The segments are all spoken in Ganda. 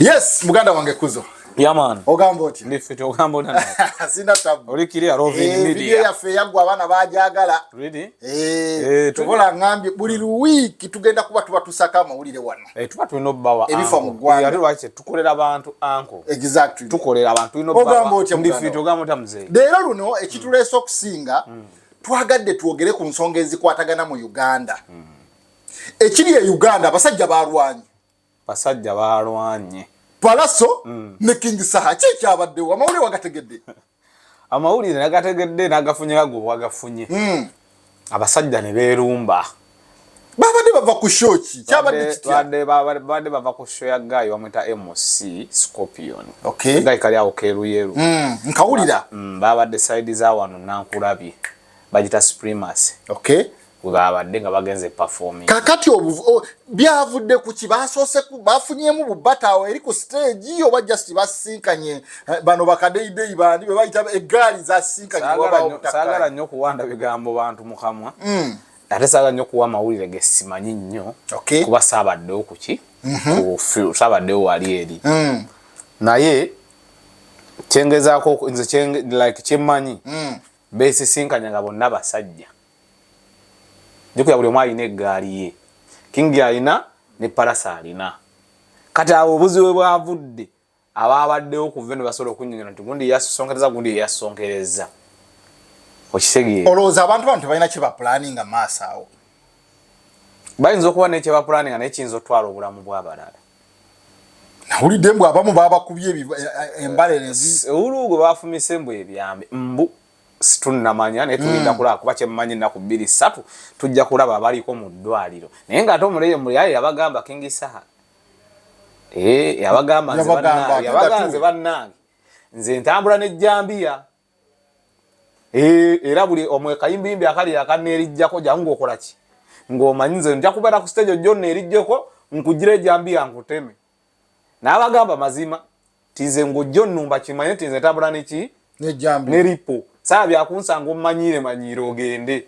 Yes, muganda wange kuzo. Yeah man. Ogamba oti. Ndi fit ogamba oti. Sina tabu. Oli kiri arovi eh, media. Video ya fe yangu abana bajagala. Really? Eh. eh tukola ngambi buli wiki tugenda kuba tuba tusaka mawulire wano. Eh tuba tulino bawa. Ebifa mu gwanga. Yali wache tukolera abantu anko. Exactly. Tukolera abantu ino bawa. Ogamba oti ndi fit ogamba oti mzee. Dero luno ekituleso kusinga. Mm. Twagadde twogere ku nsonga ezikwatagana mu Uganda. Mm. Ekiri ya Uganda basajja balwanyi. Basajja baalwanye. Pallaso ne King Saha ki ekyabaddewo? Amawulire wagategedde? Amawulire nagategedde nagafunye nga gwe wagafunye. Hmm. Abasajja ne beerumba. Babadde bava ku show ki? Kyabadde kitya? Babadde bava ku show ya guy bamwita MC Scorpion. Okay. Guy kali awo keeruyeru. Hmm, nkawulira. Hmm, babadde side za wano Nankulabye. Bagita Supremacy. Okay. webabadde nga bagenze performing kakati obu byavudde ku kibasoose ku bafunyemu bu batawo eri ku stage yo ba just basinkanye eh, bano bakadeidei bandi be bayita egali za sinkanye waba otakala sagala nyo kuwanda bigambo bantu mukamwa mm. ate sagala nyo kuwa mawulire ge simanyi nyo okay. kuba sabadde okuki mm -hmm. ku sabadde wali eri mm. naye kyengezako nze kyenge like kyemanyi mm. besisinkanya nga bonna basajja jukira buli omu alina eggaali ye kingi alina ne palasa alina kati awo obuzibu bwe bwavudde abaabaddewo ku veno basobola okunyonyola nti gundi yasonkereza gundi yeyasonkereza okitegeera olowooza abantu bano tebalina kye bapulaninga maaso awo bayinza okuba naye kye bapulaninga naye kiyinza okutwala obulamu bw'abalala nawulidde mbu abamu babakubye eh, eh, embala enzi ewuluugwe bafumise mbu ebyambe mbu situnnamanya naye tulinda mm. kulaba kuba kyemmanyi ennaku bbiri ssatu tujja kulaba abaliko mu ddwaliro naye ng'ate omuleyo muyaye yabagamba kingi saha eh, yabagamba nze bannange nze ntambula nejjambiya eh, era buli omwekayimbiyimbi akali akaneerijjako jangu ngaokolaki ng'omanyi nze nja kubeera ku siteegi ojjonna erijjeko nkugira ejjambiya nkuteme n'abagamba mazima tinze ng'ojja onnumba kimanye tinze tabula neki ne ripo saa byakunsanga ommanyiire manyiire ogende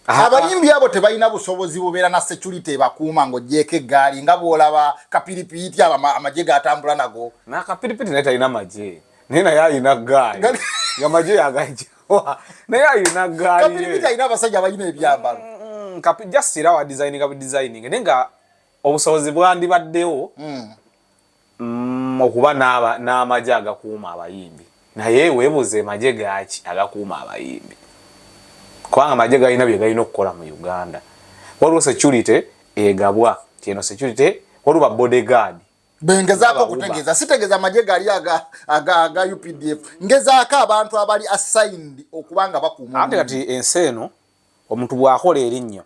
abayimbi abo tebalina busobozi bubeera na security ebakuuma ng'ogyeko eggaali nga bw'olaba kapiripiiti abo amagye gatambula nago nakapiripiiti naye talina magye naye naye alina ggaali nga magye yagajjawa naye alina ggaali kapiripiiti alina abasajja abalina ebyambalo mm, mm, mm, just era wa designinga bu designing naye nga obusobozi bwandibaddewo mm. mm, okuba n'amagye agakuuma abayimbi naye webuuze magye gaaki agakuuma abayimbi kubanga amagye galina bye galina okukola mu uganda waliwo security egabwa tieno security waliwo babodyguard bengezaako okutegeeza sitegeeza amagye gali aga updf ngezaako abantu abali assigned okuba nga bakuuma ate kati ensi eno omuntu bwakola erinnya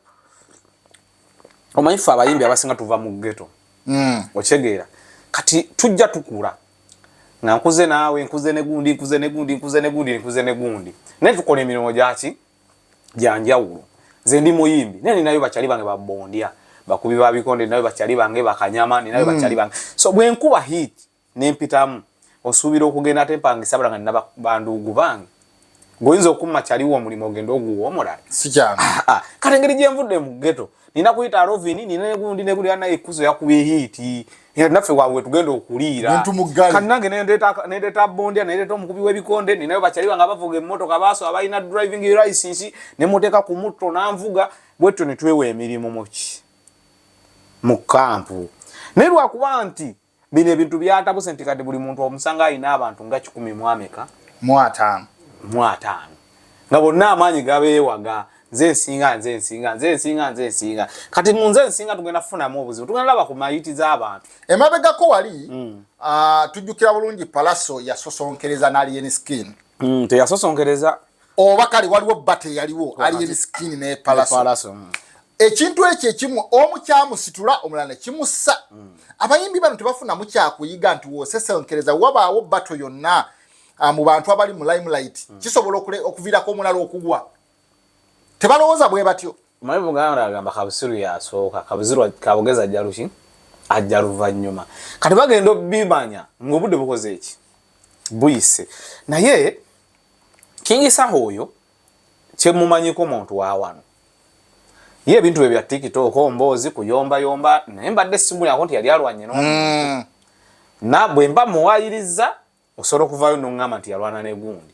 omanyi ffe abayimbi abasinga tuva mu geto hmm. okitegeera kati tujja tukula nga nkuze naawe nkuze negundi nkuze negundi nkuze negundi nkuze negundi naye tukola emirimu gyaki gyanjawulo nze ndi muyimbi naye ninayo bakyali bange babondya bakubi babikonde ninayo bakyali bange bakanyama ninayo hmm. bakyali bange so bwenkuba hiiti nempitamu osuubira okugenda ate mpangisa bula nga nina banduugu bange ngoyinza okumma kyaliwo omulimu ogenda oguwa omulala sikyana ah, ah. kale engeri gyenvudde mu geto nina kuyita arovini nina negundi negulira naye ekuzo yakubye hiiti era naffe wawe tugenda okuliira kati nange nendeeta bondya nendeeta omukubi w'ebikonde ninayo bakyaliba nga bavuga emmotoka baaso abalina driving license nemuteeka ku mutto nanvuga bwetyo netwewa emirimu muki mu kampu naye lwakuba nti bino ebintu byatabuse nti kati buli muntu omusanga alina abantu nga kikumi mwameka mwataano mwataano nga bonna amaanyi gabeewaga nze nsinga nze nsinga nze nsinga nze nsinga kati mu nze nsinga tugenda kufunamu obuzibu tugenda laba ku mayiti z'abantu emabegako wali mm. uh, tujjukira bulungi palaso yasosonkereza nalien skin mm, teyasosonkereza oba kale waliwo bata eyaliwo ali emisikini nepalaso mm. ekintu ekyo ekimu omu kyamusitula omulala nekimussa mm. abayimbi bano tebafunamu kyakuyiga nti wosesenkereza wabaawo bato yonna ah, mu bantu abali mu limelight mm. kisobola okuviirako omulala okugwa tebalowooza bwe batyo Mwe Buganda agamba kabusiru yasooka kabusiru kabugezi ajja luki ajja luvannyuma kati bagenda obimanya ng'obudde bukoze eki buyise naye kingi saha oyo kyemumanyiko muntu wawano ye ebintu bye bya tiktok mboozi kuyombayomba naye mbadde simulyako nti yali alwanye no mm. na bwemba muwayiriza osobola okuvaayo nongamba nti yalwana negundi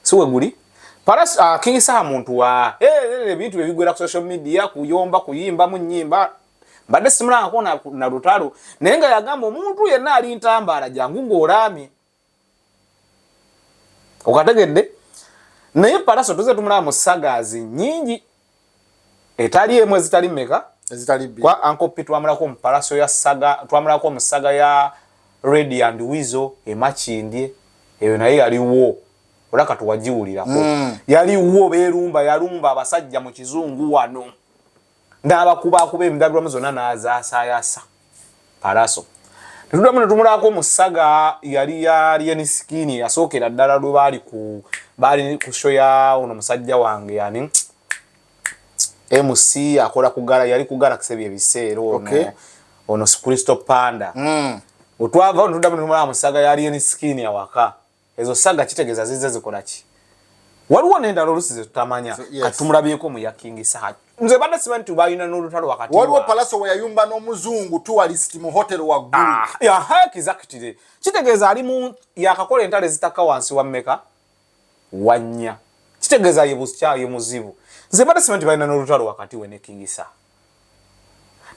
si weguli paras uh, king saha muntu wa eh, eh, eh, ebintu hey, bebigwera ku social media kuyomba kuyimba mu nyimba mbadde simulangako na, na lutalo naye nga yagamba omuntu yenna ali ntambaala jangu ngaolaamye okategedde naye paraso tuze tumulaba mu sagazi nyingi etali emu ezitali meka ezitali bi kwa anko pi twamulako mu palaso ya saga twamulako mu saga ya ready and wizo emachindie eyo naye yali wo ola katu wajiwulira ko mm. yali wo berumba yalumba abasajja mu kizungu wano ndaba kuba kuba emdabirwa muzona na za sayasa Paalaso. Tetuddamu ne tumulaako mu ssaga yali ya Alien Skin yasookera ddala lwe baali ku baali ku show ya ono musajja wange yani MC akola ku gara yali ku gara kisebi ebiseera ono okay. ono Christo Panda mm. otwava ono tuddamu ne tumulaako mu ssaga ya Alien Skin awaka ezo saga kitegeza zize zikolaki waliwo nendala olusi zetutamanya so, yes. katumulabyeko mu ya king saha nze bana simanyi nti balina n'olutalo wakati waliwo palaso weyayumba n'omuzungu tuwalist mu hotel wagguluakizakitire ah, kitegeeza ali mu yakakola entalo ezitakka wansi wa mmeka wannya kitegeeza ye busya ye muzibu nze bana simanyi nti balina n'olutalo wakati we ne king saha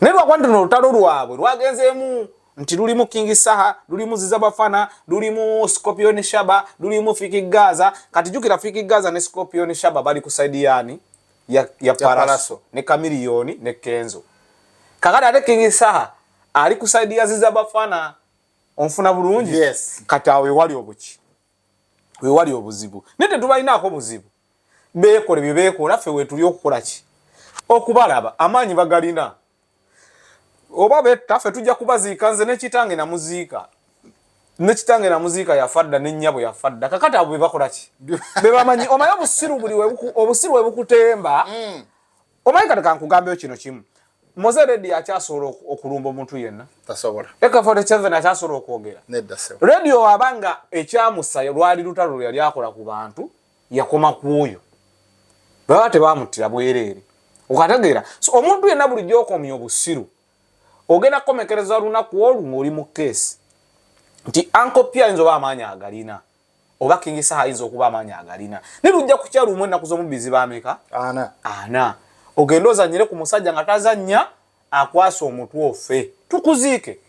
naye lwakuba nti nolutalo lwabwe lwagenzeemu nti lulimu king saha lulimu ziza bafana lulimu scorpion shaba lulimu fiki gaza kati jukira fiki gaza ne scorpion shaba bali ku side yani ya, ya paraso ne kamiliyoni ne kenzo kakati ate king saha ali ku side ya ziza bafana onfuna bulungi yes. kati awo ewali obuki wewali obuzibu naye tetubalinaako buzibu beekole bye beekola ffe wetuli okukola ki okubalaba amaanyi bagalina oba betta ffe tujja kubaziika nze nekitange namuziika nekitange namuziika yafa dda nennyabo yafa dda kakati abo bebakola ki bebamanyi omaye obusiru buli obusiru webukutemba mm. omanyi kati kankugambeyo kino kimu moze redi akyasobola okulumba omuntu yenna ekafotseven akyasobola okwogera redi oaba nga ekyamusayo lwali lutalo lweyali akola ku bantu yakoma ku oyo baba tebamuttira bwereere okategeera so omuntu yenna buli gyokomya obusiru ogenda kukomekereza lunaku olwo ngaoli mu keesi nti ankopyayinza oba amaanyi agalina oba King Saha ayinza okuba amaanyi agalina naye lujja kukya lumu ennaku z'omubbi ziba ameka ana ana ogende ozannyire ku musajja nga tazannya akwasa omutwe ofe tukuziike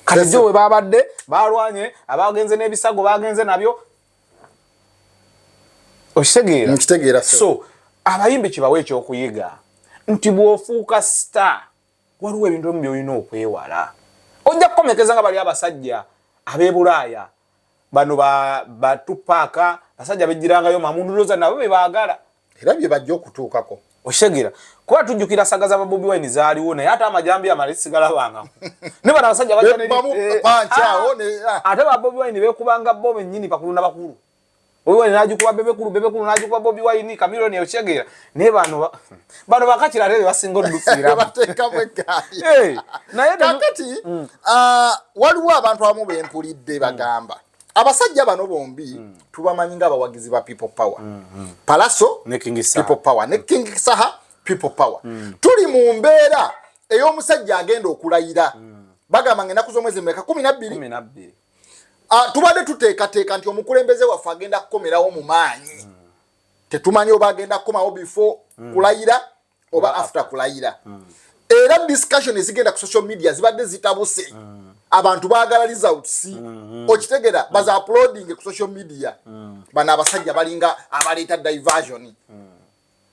kati gyo we baabadde baalwanye abaagenze n'ebisago baagenze nabyo okitegeera nkitegeera so abayimbi kibawe ekyokuyiga nti bw'ofuuka star Waliwo ebintu bimu by'olina okwewala. Ojja kukomekeza nga bali abasajja ab'e Bulaaya bano batupaaka basajja bejjirangayo mamunduloza nabo be baagala era bye bajja okutuukako. Okitegera kuba tujjukira saga za babobi wine zaaliwo naye ate amajambi amale sigalabanga ne bano abasajja bajaneri eh, ah, ah. ate babobi wine bekubanga bo bennyini bakulu na bakulu Bobi Wine n'agikuba Bebekulu, Bebekulu n'agikuba Bobi Wine, Chameleon yakitegeera. Naye bano bano bakakira ate be basinga odduukiramu. Bateekamu eggaali. Eh, naye kakati mm. ah, waliwo abantu abamu be mpulidde bagamba abasajja bano bombi mm. tubamanyi nga abawagizi ba people power mm, mm. palaso ne king saha people power ne king saha people power mm. tuli mu mbeera ey'omusajja agenda okulayira mm. bagamba nga enaku z'omwezi mweka kumi nabbiri Ah, tubadde tuteekateeka nti omukulembeze waffe agenda kukomerawo mu maanyi hmm. tetumanyi oba agenda kukomawo before hmm. kulayira oba after kulayira hmm. era discussion ezigenda ku social media zibadde zitabuse abantu baagala results okitegera baza uploading ku social media bano abasajja balinga abaleeta diversion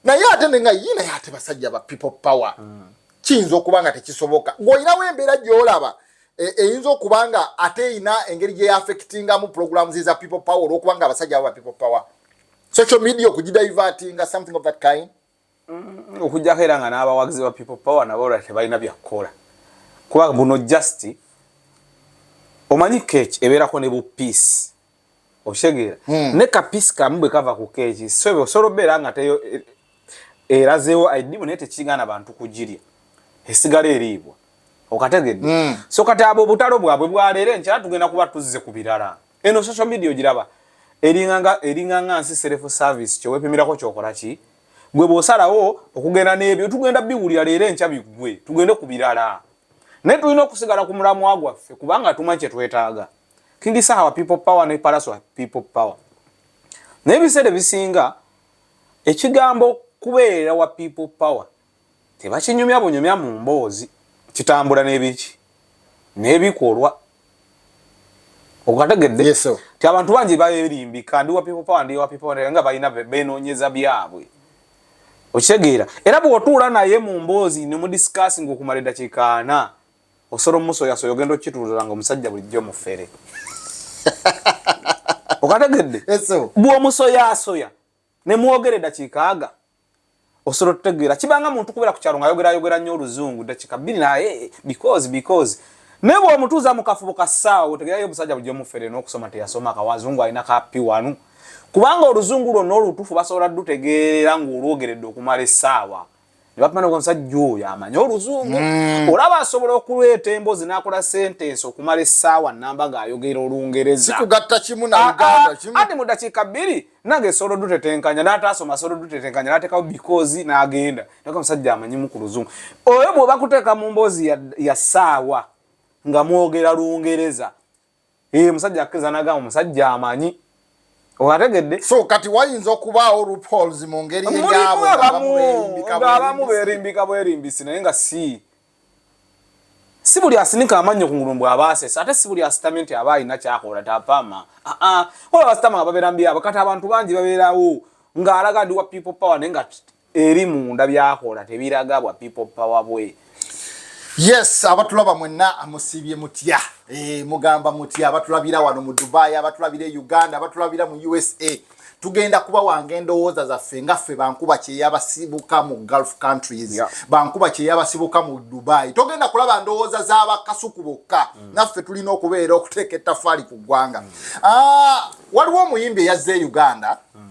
naye ate ne nga yii naye ate basajja ba people power mm. kiyinza okuba nga tekisoboka ng'olinawo embeera gy'olaba e, eyinza e, okuba nga ate erina engeri gye yaafekitingamu pulogulaamu ziza people power olw'okuba nga abasajja abo ba people power social media okugidivatinga something of that kind mm, okujjako era nga n'abawagizi ba people power nabo olwa tebalina byakukola kuba buno just omanyi keeki ebeerako ne bu peace okitegeera hmm. ne kapisi kamu bwe kava ku keeki sobe osobola obeera nga teyo e, erazeewo aidimu naye tekigana bantu kugirya esigala eriibwa okategedde hmm. so kati abo obutalo bwabwe bwaleero enkyala tugenda kuba tuzze ku birala eno social media ogiraba eringanga eringanga nsi self service kyewepimirako kyokola ki gwe bwosalawo okugenda n'ebyo tugenda biwulira leero enkya biggwe tugende ku birala naye tulina okusigala ku mulamwa gwaffe kubanga tumanyi kyetwetaaga King Saha wa people power ne Palaso wa people power. Naye biseera bisinga ekigambo kubeera wa people power tebakinyumya bunyumya mu mboozi kitambula n'ebiki n'ebikolwa okategedde yes, so. ti abantu bangi bayerimbika ndi wa people power ndi wa people power nga balina benoonyeza byabwe okitegeera era bw'otuula naye mu mboozi ne mu discussing okumala eddakiika ana osolo muso yaso yogendo kitulula ngo musajja bulijjo mufere okategedde eso bwo muso yaso ya ne muogere dakika aga osolo tutegera kibanga muntu kubera kuchalo nga yogera yogera nyo luzungu dakika bini na hey, eh, because because nebo omutuza mukafubo ka sawa otegera yo musajja bulijjo mufere no kusoma te yasoma ka wazungu alina ka pi wanu kubanga oluzungu lwo no lutufu basola dutegera ngo olwogeredde okumale sawa ne bapima n'omusajja oyo amanyi oluzungu mm. olaba asobola okuleeta emboozi n'akola sentensi okumala essaawa namba ng'ayogera olungereza sikugatta kimu na ah, uganda ah, kimu ati mu ddakiika bbiri nange solo dutetenkanya n'ataasoma solo dutetenkanya n'ateekawo bikoozi n'agenda naka omusajja amanyimu ku luzungu oyo bw'oba kuteeka mu mboozi ya ssaawa nga mwogera lungereza ee musajja akkiriza nagamba omusajja amanyi owategedde so kati wayinza okubaawo rupols mu ngeri eyaboabamu berimbika bwerimbisi naye nga si si buli asinika amannyo ku ngulu mbw aba asesa ate si buli asitamye nti aba alina kyakola tapama aa ola basitama nga babeera mbyabo kati abantu bangi babeerawo ng'alaga ndi wa people power naye nga eri munda byakola tebiraga bwa people power bwe yes abatulaba mwenna amusibye mutya e, mugamba mutya abatulabira wano mu dubai abatulabira e uganda abatulabira mu usa tugenda kuba wange endowooza zaffe nga ffe bankuba kyeyabasibuka mu gulf countries yeah. bankuba kyeyabasibuka mu dubai togenda kulaba ndowooza z'abakasuku bokka mm. naffe tulina okubeera okuteeka ettafaali ku ggwanga mm. ah, waliwo omuyimbi eyazze e uganda mm.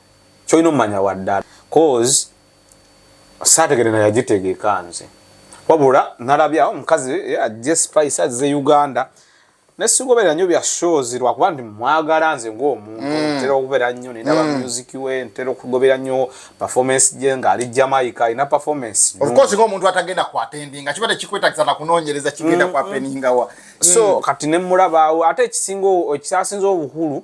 kyolina omumanya waddala cause saategere naye agitegeka nze wabula nalabye awo omukazi eh, ajje spice azze uganda nesigoberera nyo bya shows lwakuba nti mwagala nze ngaomuntu mm. ntera okubeera nnyo nenaba mm. music we ntera okugobera nnyo performance gye ngaali jamaica alina performance ofcourse ngaomuntu atagenda kwatendinga kiba tekikwetagisa nakunonyereza kigenda mm, kwapeningawa so kati nemulabaawo ate ekisinga ekyasinza obukulu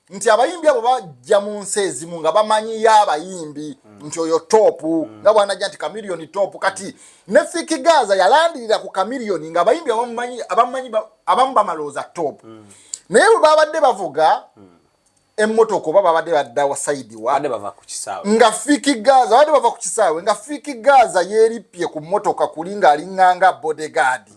nti abayimbi abo bajja mu nsi ezimu nga bamanyiyo abayimbi mm. nti oyo topu mm. nga bwanajja nti kamiliyoni topu kati ne fiki gaza yalandirira ku kamiliyoni nga abayimbi abamumanyi abamu bamalooza topu mm. naye bwe babadde bavuga emmotoka oba babadde badda wasaidi wa nga fiki gaza babadde bava ku kisaawe nga fiki gaza yeerippye ku mmotoka kuli ng'alinganga bodegaadi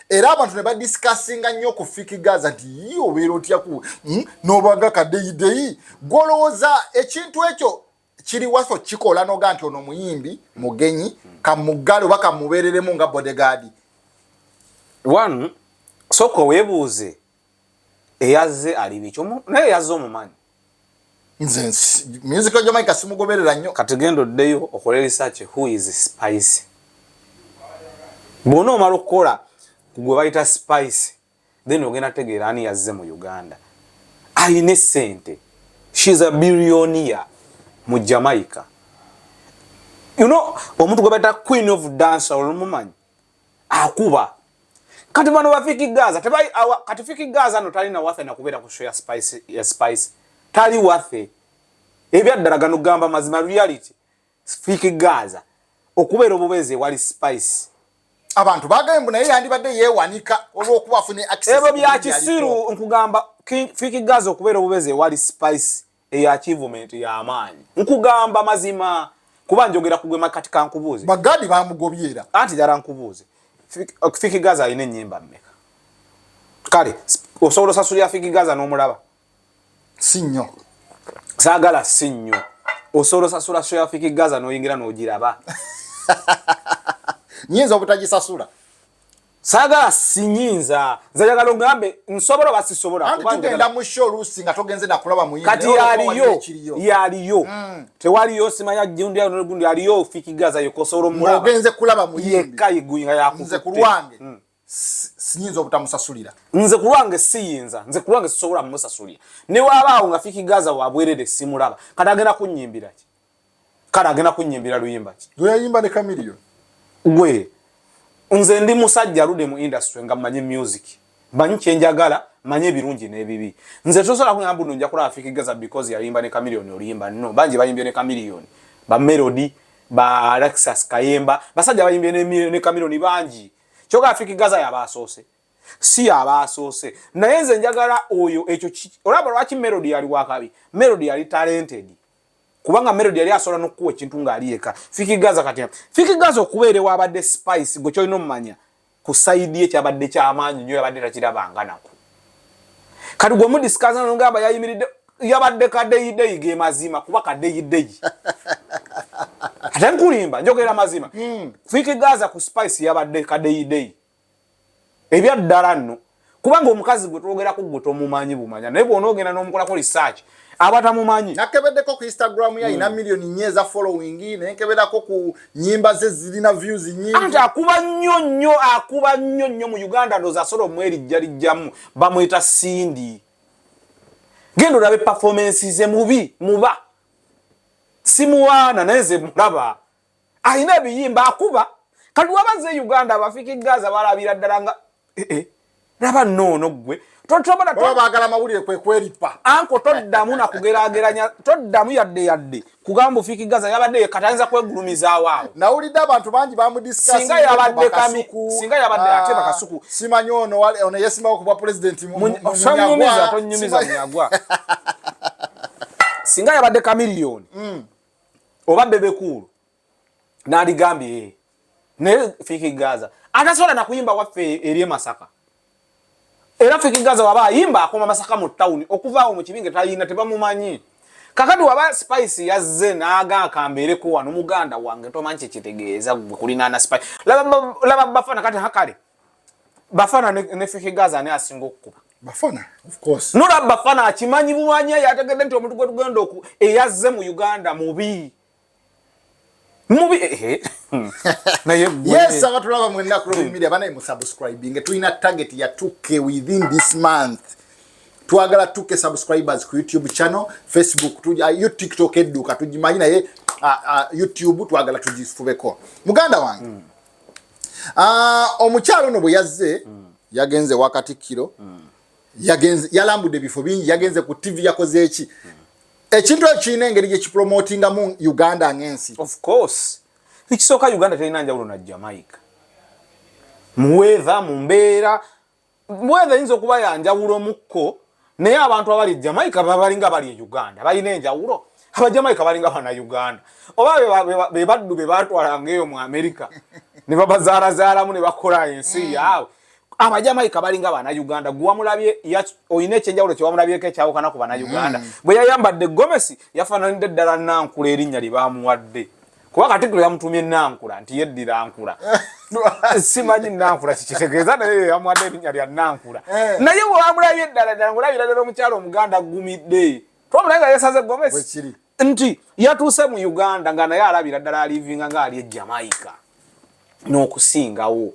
era abantu ne badisikasinga nnyo ku fiki gaza nti yi obeera otyaku hmm? nobanga kadeyideyi gwolowooza ekintu ekyo kiri waso kikola noga nti ono muyimbi mugenyi kamuggale oba kamubeereremu nga bodegaadi one soka webuuze eyazze ali biki naye yazze omumanyi nze music ya Jamaica simugoberera nnyo kati genda oddeyo okole research who is spice bwona omala okukola gwe bayita spice then ogenda tegeera ani yazze mu uganda alina essente she is a billionia mu jamaica you know omuntu gwe bayita queen of dancer olumumanyi akuba kati bano bafiki gaza tebai awa kati fiki gaza no tali na wafe na kubera ku show ya spice ya spice tali wafe ebya dara gano gamba mazima reality fiki gaza okubera obubeze wali spice abantu bagaye mbona yandi bade ye wanika olwo kuba fune access ebo bya kisiru nkugamba fiki gaza okubera obubeze wali spice eyo achievement ya maanyi nkugamba mazima kuba njogera kugwe makati kankubuuze bagadi bamugobyera anti dara nkubuuze fiki gaza alina enyimba mmeka kale osobola osasulira fiki gaza n'omulaba si nnyo saagala si nnyo osobola osasula sho ya fiki gaza n'oyingira n'ogiraba nyinza obutagisasula sagala sinyinza nze njagala ogambe nsobola oba sisobola tugenda mu show oluusi nga togenze nakulaba muyimbi kati yaliyo yaliyo mm. tewaliyo simanya gundi ayo nogundi aliyo ofikigaza yokosobola omulaba ogenze kulaba muyimbi yekka iguyi nga yakutte nze ku lwange mm. sinyinza obutamusasulira nze ku lwange siyinza nze ku lwange sisobola mumusasulira ne wabaawo nga fikigaza wabwerere simulaba kati agenda kunnyimbira ki kale agenda kunyimbira luyimba ki lweyayimba ne kamiliyo gwe nze ndi musajja alude mu industry nga mmanyi music mmanyi kyenjagala mmanyi ebirungi n'ebibi nze tosobola kugamba buno nja kulaba fiki gaza because yayimba ne kamiliyoni oluyimba no bangi bayimbye ne kamiliyoni ba melody ba alexas kayemba basajja bayimbye ne kamiliyoni bangi kyoka fiki gaza yaba asoose si yaba asoose naye nze njagala oyo ekyo olaba lwaki melody yali wakabi melody yali talented kubanga melody yali asobola nokukuwa ekintu ngaali yeka fiki gaza kati fiki gaza okubeera ewabadde spice gwe kyolina omumanya ku saidi ye kyabadde kyamaanyi nyo yabadde takirabanga naku kati gwe mudisikaza nogamba yayimiridde yabadde kadeyideyi ge mazima kuba kadeyideyi ate nkulimba njogera mazima hmm. fiki gaza ku spice yabadde kadeyideyi ebya ddala nno kubanga omukazi gwe twogerako gwe tomumanyi bumanya naye bwona ogenda n'omukolako research aba tamumanyi nakebeddeko ku instagram ye alina mm. millioni nnya eza following naye nkeberako ku nyimba ze zirina views nyingi anti akuba nnyo nnyo akuba nnyo nnyo mu uganda ndoza asobola omwerijjalijjamu bamweta sindi genda olabe performance ze mubi muba simuwaana naye ze mulaba alina ebiyimba akuba kati waba nze e uganda abafika egaza balabira ddala nga eh, eh. laba noono ggwe bagala amawulire kwekweripa anko toddamu nakugerageranya toddamu yadde yadde kugamba ofiiki gaza yabadde yekatayinza kwegulumizaawo awo nawulidde abantu bangi bamudissinga yabadde singa yabadde ah, ate bakasuku simanyi ono ono yesimbawo kubwa pulezidenti munyagwa tonyumiza munyagwa singa yabadde kamiliyoni mm. oba bebe cool naligambye eh. naye fiki gaza atasobola nakuyimba waffe eri emasaka era fiki gaza waba ayimba akoma masaka mu tawuni okuvaawo mu kibinge tayina tebamumanyi kakati waba spice yazze naaga akambeereko wano muganda wange tomanyi kyekitegeeza gwe kulinaana spice laba bafana kati hakale bafana ne fiki gaza ani asinga okukuba Bafana of course. Nura Bafana akimanyi bumanya yategedde nti omuntu gwe tugenda oku eyazze mu Uganda mubi. Mubi eh. eh. Na ye gwe. Yes abatulaba mu ennaku lo media bana mu subscribing tuina target ya 2k within this month. Twagala 2k subscribers ku YouTube channel, Facebook, tu, uh, you TikTok eduka tujimanyi na ye uh, uh, YouTube twagala tujifubeko. Muganda wange. Mm. Ah, omukyalo ono bwe yazze mm. yagenze wa katikkiro mm. yagenze yalambudde ebifo bingi yagenze ku ttivi yakoze eki mm. ekintu ekyo kirina engeri gye kipromotingamu uganda ng'ensi of course ekisooka uganda terina njawulo na jamaica muweeva mu mbeera bweza eyinza okuba yanjawulo mukko naye abantu abali e jamaica babalinga bali e uganda balina enjawulo abajamaica balinga bana uganda oba bebaddu bebatwalanga eyo mu amerika nebabazaalazaalamu nebakola ensi mm. yaabwe abajamaica balinga bana uganda gwewamulabye olina ekyenjawulo kyewamulabyeko ekyawukana ku bana uganda mm. bwe yayambadde gomesi yafananidde ddala nankula erinnya lyebamuwadde kuba katikkiro yamutumye nankula nti yeddira nkula simanyi nankula kikitegeeza naye yamwadde erinnya lya nankula eh. naye wewamulabye eddala ddala ngaolabira ddala omukyalo omuganda aggumidde twamulaye nga yesaze gomesi nti yatuuse mu uganda nga naye alabira ddala alivinga nga ali e jamaica n'okusingawo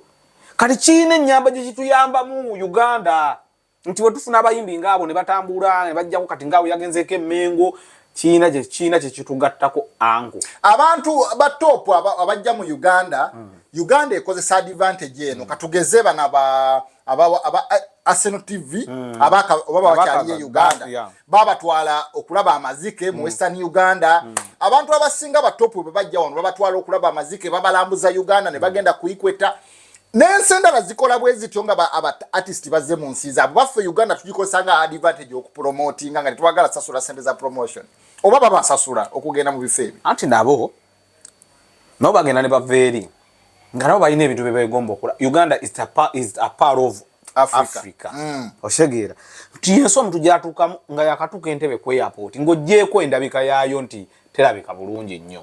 kati kiina ennyamba gye kituyambamu uganda nti wetufuna abayimbi ngaabo ne batambuula ne bajjako kati ngaawo yagenzeeko emmengo kiina kye kiina kye kitugattako angu abantu ba top abajja mu uganda mm. uganda ekozesa advantage eno mm. katugeze bana ba abawa aba Arsenal TV mm. abaka obaba wakyali ye Uganda yeah. baba twala okulaba amazike mm. mu Western Uganda mm. abantu abasinga ba top bwe bajja wano baba twala okulaba amazike baba lambuza Uganda ne mm. bagenda mm. kuikweta mm. n'ensi endala zikola bwe zityo nga ba abatisiti bazze mu nsi zaabwe baffe uganda tugikozesa nga advantage okupromotinga nga tetwagala sasula sente za promotion oba babasasula okugenda mu bifo ebyo anti nabo nabo bagenda ne bava eri nga nabo balina ebintu byebegomba okola uganda is a, is a part of africa mm. osegeera nti yensi omuntu gyatuukamu nga yakatuuka entebe ku airport ng'ogyeko endabika yaayo nti terabika bulungi nnyo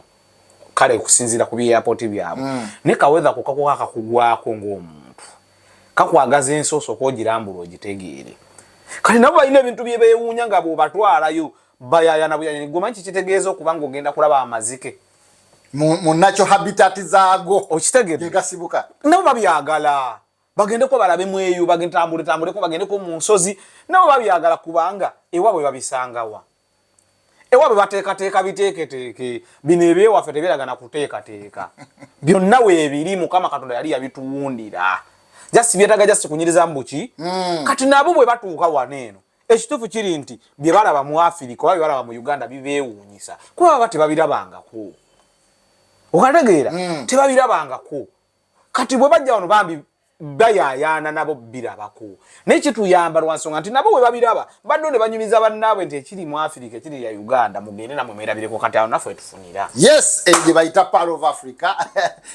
kale okusinziira ku byeyapoti byabwe mm. ne kawetha kukakuka kakugwako ng'omuntu kakwagaza ensi osooka ogirambula ogitegeere kati nabo balina ebintu bye beewuunya nga bwebatwalayo bayayana buyayana gwomanyi kikitegeeza okuba nga ogenda kulaba amazike munakyo habitat zaago okitegeregasibuka nabo babyagala bagendeko balabe mweyo bagentambuletambuleko bagendeko mu nsozi nabo babyagala kubanga ewaabwe babisangawa ewabwe bateekateeka biteeketeeke bino ebyewaffe tebiraga na kuteekateeka byonna weebiri mukama katonda yali yabituwundira jasi byetaga jasi kunyiriza mbuki mm. kati nabo bwe batuuka wano eno ekituufu kiri nti bye balaba mu afirika oba bye balaba mu uganda bibeewuunyisa kuba baba tebabirabangako okategeera mm. tebabirabangako kati bwe bajja wano bambi bayayaana nabo birabako naye kituyamba lwansonga nti nabo webabiraba baddo ne banyumiza bannaabwe nti ekiri mu afirika ekiri ya uganda mugende namwe mwerabireko kati awo naffe etufunira yes eyo gye bayita pal of africa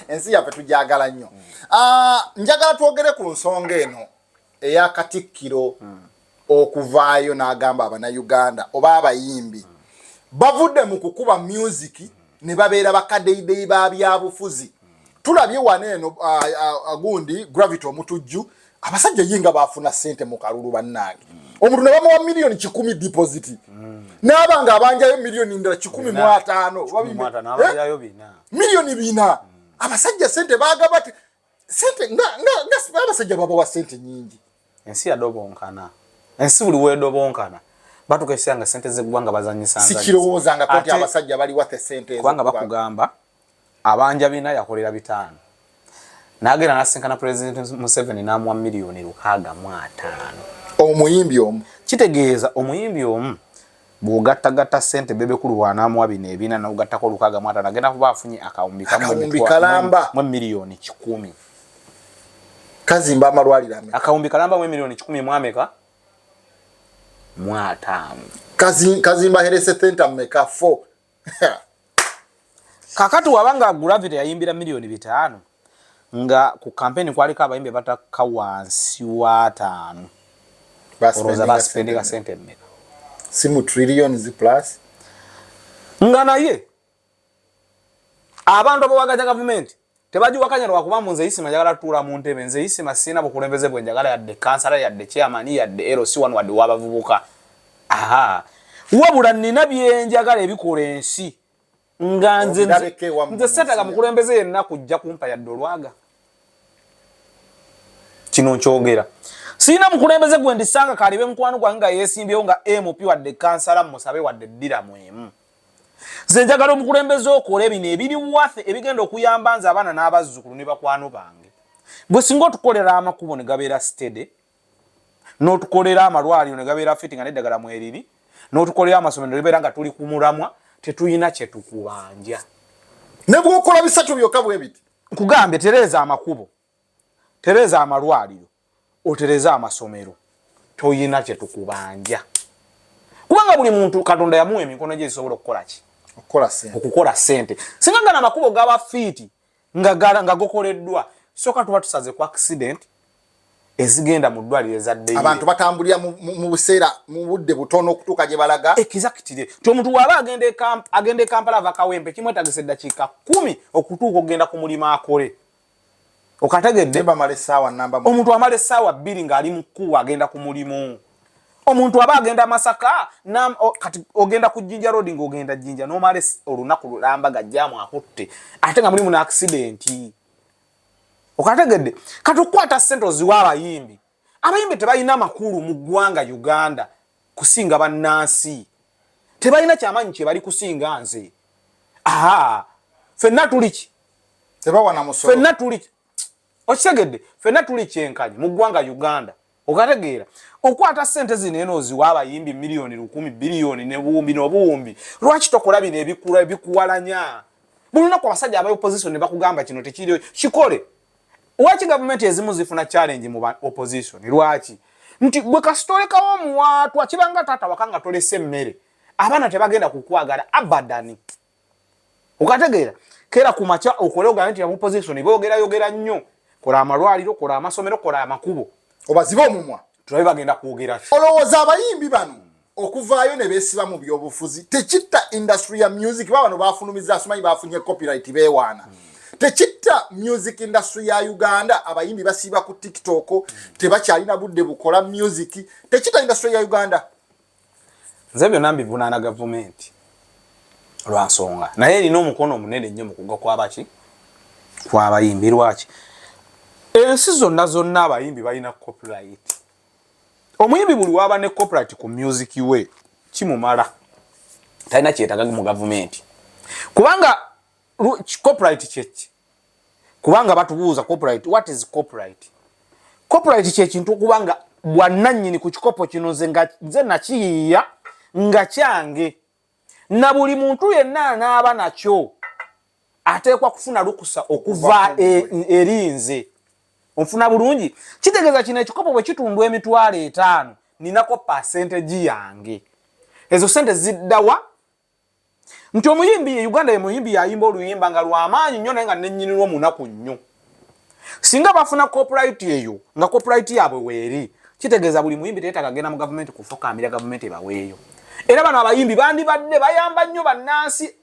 ensi yaffe tujagala nnyo mm. ah, njagala twogere ku nsonga eno eya katikkiro mm. okuvaayo n'agamba abanayuganda oba abayimbi bavudde mu kukuba myuziki ne babeera bakadeyideyi ba byabufuzi tulabye wano eno gundi gravity omutujju abasajja ye nga baafuna ssente mu kalulu bannange omuntu ne bamuwa miliyoni kikumi deposit n'aba nga abanjayo miliyoni ndala kikumi mu ataano eh? miliyoni bina abasajja ssente baagabati sente nga nga nga abasajja babawa sente nyingi ensi yadobonkana ensi buli wedobonkana batukesea nga sente zegwanga bazanyisa sikirowooza nga kati abasajja bali wathe sente kubanga bakugamba abanja bina yakolera bitano nagenda nasinkana president museveni namwa miliyoni lukaaga mu ataano omuyimbi omu kitegeeza omuyimbi omu Bw'ogattagatta ssente Bebekulu bw'anaamuwa bino ebina n'ogattako olukaaga mu ataano agenda kuba afunye akawumbi kamu mu emiliyoni kikumi. Kazimba amalwaliro ameka? Akawumbi kalamba mu emiliyoni kikumi mu ameka? Mu ataano. Kazimba Herese Thenta meka? Four. kakati waba nga gravity yayimbira miliyoni bitaano nga ku kampeni kwaliko abayimbi batakka wansi wataano olowooza basipendinga sente mmeka si mu trillion zi plus nga naye abantu abawagaza gavumenti tebagiwakanya lwakuba mbu nze isima njagala tutuula mu ntebe nze isima sirina bukulembeze bwe njagala yadde kansala yadde chairman yadde lc wanu wadde wabavubuka aha wabula nina byenjagala ebikola ensi nga nze nze setaga mukulembeze yenna kujja kumpa yadde olwaga kino nkyogera sirina mukulembeze gwe ndisanga kalibe mukwano gwange nga yesimbyewo nga mp wadde kansala musabe wadde ddira mwemu nze njagala omukulembeze okola ebino ebiri wafe ebigenda okuyamba nze abaana n'abazzukulu ne bakwano bange gwe singa otukolera amakubo ne gabeera stede n'otukolera amalwaliro ne gabeera fiti nga neddagala mweriri n'otukolera amasomero nebeera nga tuli ku mulamwa tetulina kye tukubanja ne bwokola bisatu byokka bwe biti nkugambye tereeza amakubo tereza amalwaliro otereze amasomero toyina kyetukubanja kubanga buli muntu katonda yamuwa emikono gye zisobola okukola ki okukola sente singa gana amakubo gaba fiiti nga gokoleddwa soka tuba tusaze ku accident ezigenda mu ddwaliro ezaddeyo abantu batambulira mu buseera mu budde butono okutuuka gye balaga ekizakitire nti omuntu waaba agenda e kampala ava kawempe kimwetagisa eddakiika kumi okutuuka okugenda ku mulimu akole okategedde omuntu amala essaawa bbiri ng'ali mu kkuwa agenda ku mulimu omuntu aba agenda masaka kati ogenda ku jinja road ng'ogenda jinja nomala olunaku lulamba gajjamu akutte ate nga mulimu naaksidenti okategedde kati okukwata ssente oziwa abayimbi abayimbi tebalina makulu mu ggwanga uganda kusinga bannansi tebalina kyamaanyi kyebali kusinga nze aa fenna tuliki fenna tuliki okitegedde fenna tuli kyenkanyi mu ggwanga uganda okategeera okwata sente zino eno oziwa abayimbi miliyoni lukumi biliyoni nebuwumbi nobuwumbi lwaki tokola bino ebikula ebikuwalanya buli lunaku abasajja aba opposition ne bakugamba kino tekiriyo kikole Lwaki gavumenti ezimu zifuna challenge mu opposition? Lwaki? Nti gwe kasita olekawo omuwaatwa kibanga taata waka nga tolese emmere abaana tebagenda kukwagala abadani. Okategeera kera ku makya okole ogambe nti opposition boogerayogera nnyo. Kola amalwaliro, kola amasomero, kola amakubo. Obazibe omumwa. tulabe bagenda kwogera olowooza abayimbi bano okuvaayo ne beesiba mu byobufuzi tekitta industry ya music ba bano bafulumiza asimanyi bafunye copyright beewaana hmm. tekitta music industry ya uganda abayimbi basiiba ku tiktok hmm. tebakyalina budde bukola music tekitta industry ya uganda Nze byonna mbivunaana gavumenti lwa nsonga naye erina omukono omunene nnyo mu kugwa kwabaki kwabayimbi lwaki ensi zonna zonna abayimbi balina copyright omuyimbi buli waba ne copyright ku music we kimumala talina kyetagaga mu gavumenti kubanga copyright kyeki kubanga batubuuza copyright what is copyright copyright kyekintu okubanga bwananyini ku kikopo kino nze nga nze nakiyiiya nga kyange na buli muntu yenna anaaba nakyo ateekwa kufuna lukusa okuva e, eri nze onfuna bulungi kitegeeza kino ekikopo bwe kitundwa emitwalo etaano ninako pasentegi yange ezo sente ziddawa nti omuyimbi ye uganda ye muyimbi yayimba oluyimba nga lwamaanyi nnyo naye nga nenyinirwo munaku nnyo singa bafuna copyright eyo nga copyright yaabwe weeri kitegeeza buli muyimbi teyetaaga genda mu gavumenti kufukaamira gavumenti ebaweeyo era bano abayimbi bandibadde bayamba nnyo bannansi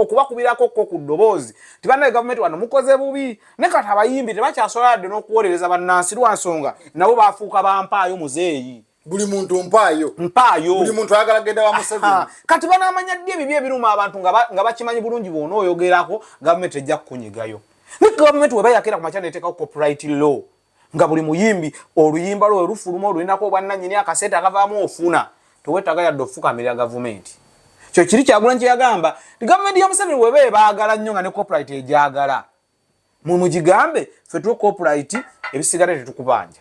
okubakubirako ko ku ddoboozi ti bannaye gavumenti wano mukoze bubi ne kati abayimbi tebakyasobola yadde n'okuwolereza bannansi lwa nsonga nabo bafuuka bampaayo muzeeyi buli muntu mpaayo mpaayo buli muntu ayagala genda wa museveni kati banamanya ddi ebibi ebiruma abantu nga bakimanyi bulungi bwona oyogerako gavumenti ejja kukunyigayo ne gavumenti weba yakera ku makya neteekawo copyright law nga buli muyimbi oluyimba lwo werufuluma olulinako obwannanyini akaseete akavaamu ofuna tewetaga yadde ofukamirira gavumenti kyo kiri kyagulanyi kyeyagamba gavumenti ya museveni weba ebaagala nnyo nga ne copyright egyagala mwe mugigambe ffe tuwe copyright ebisigala tetukubanja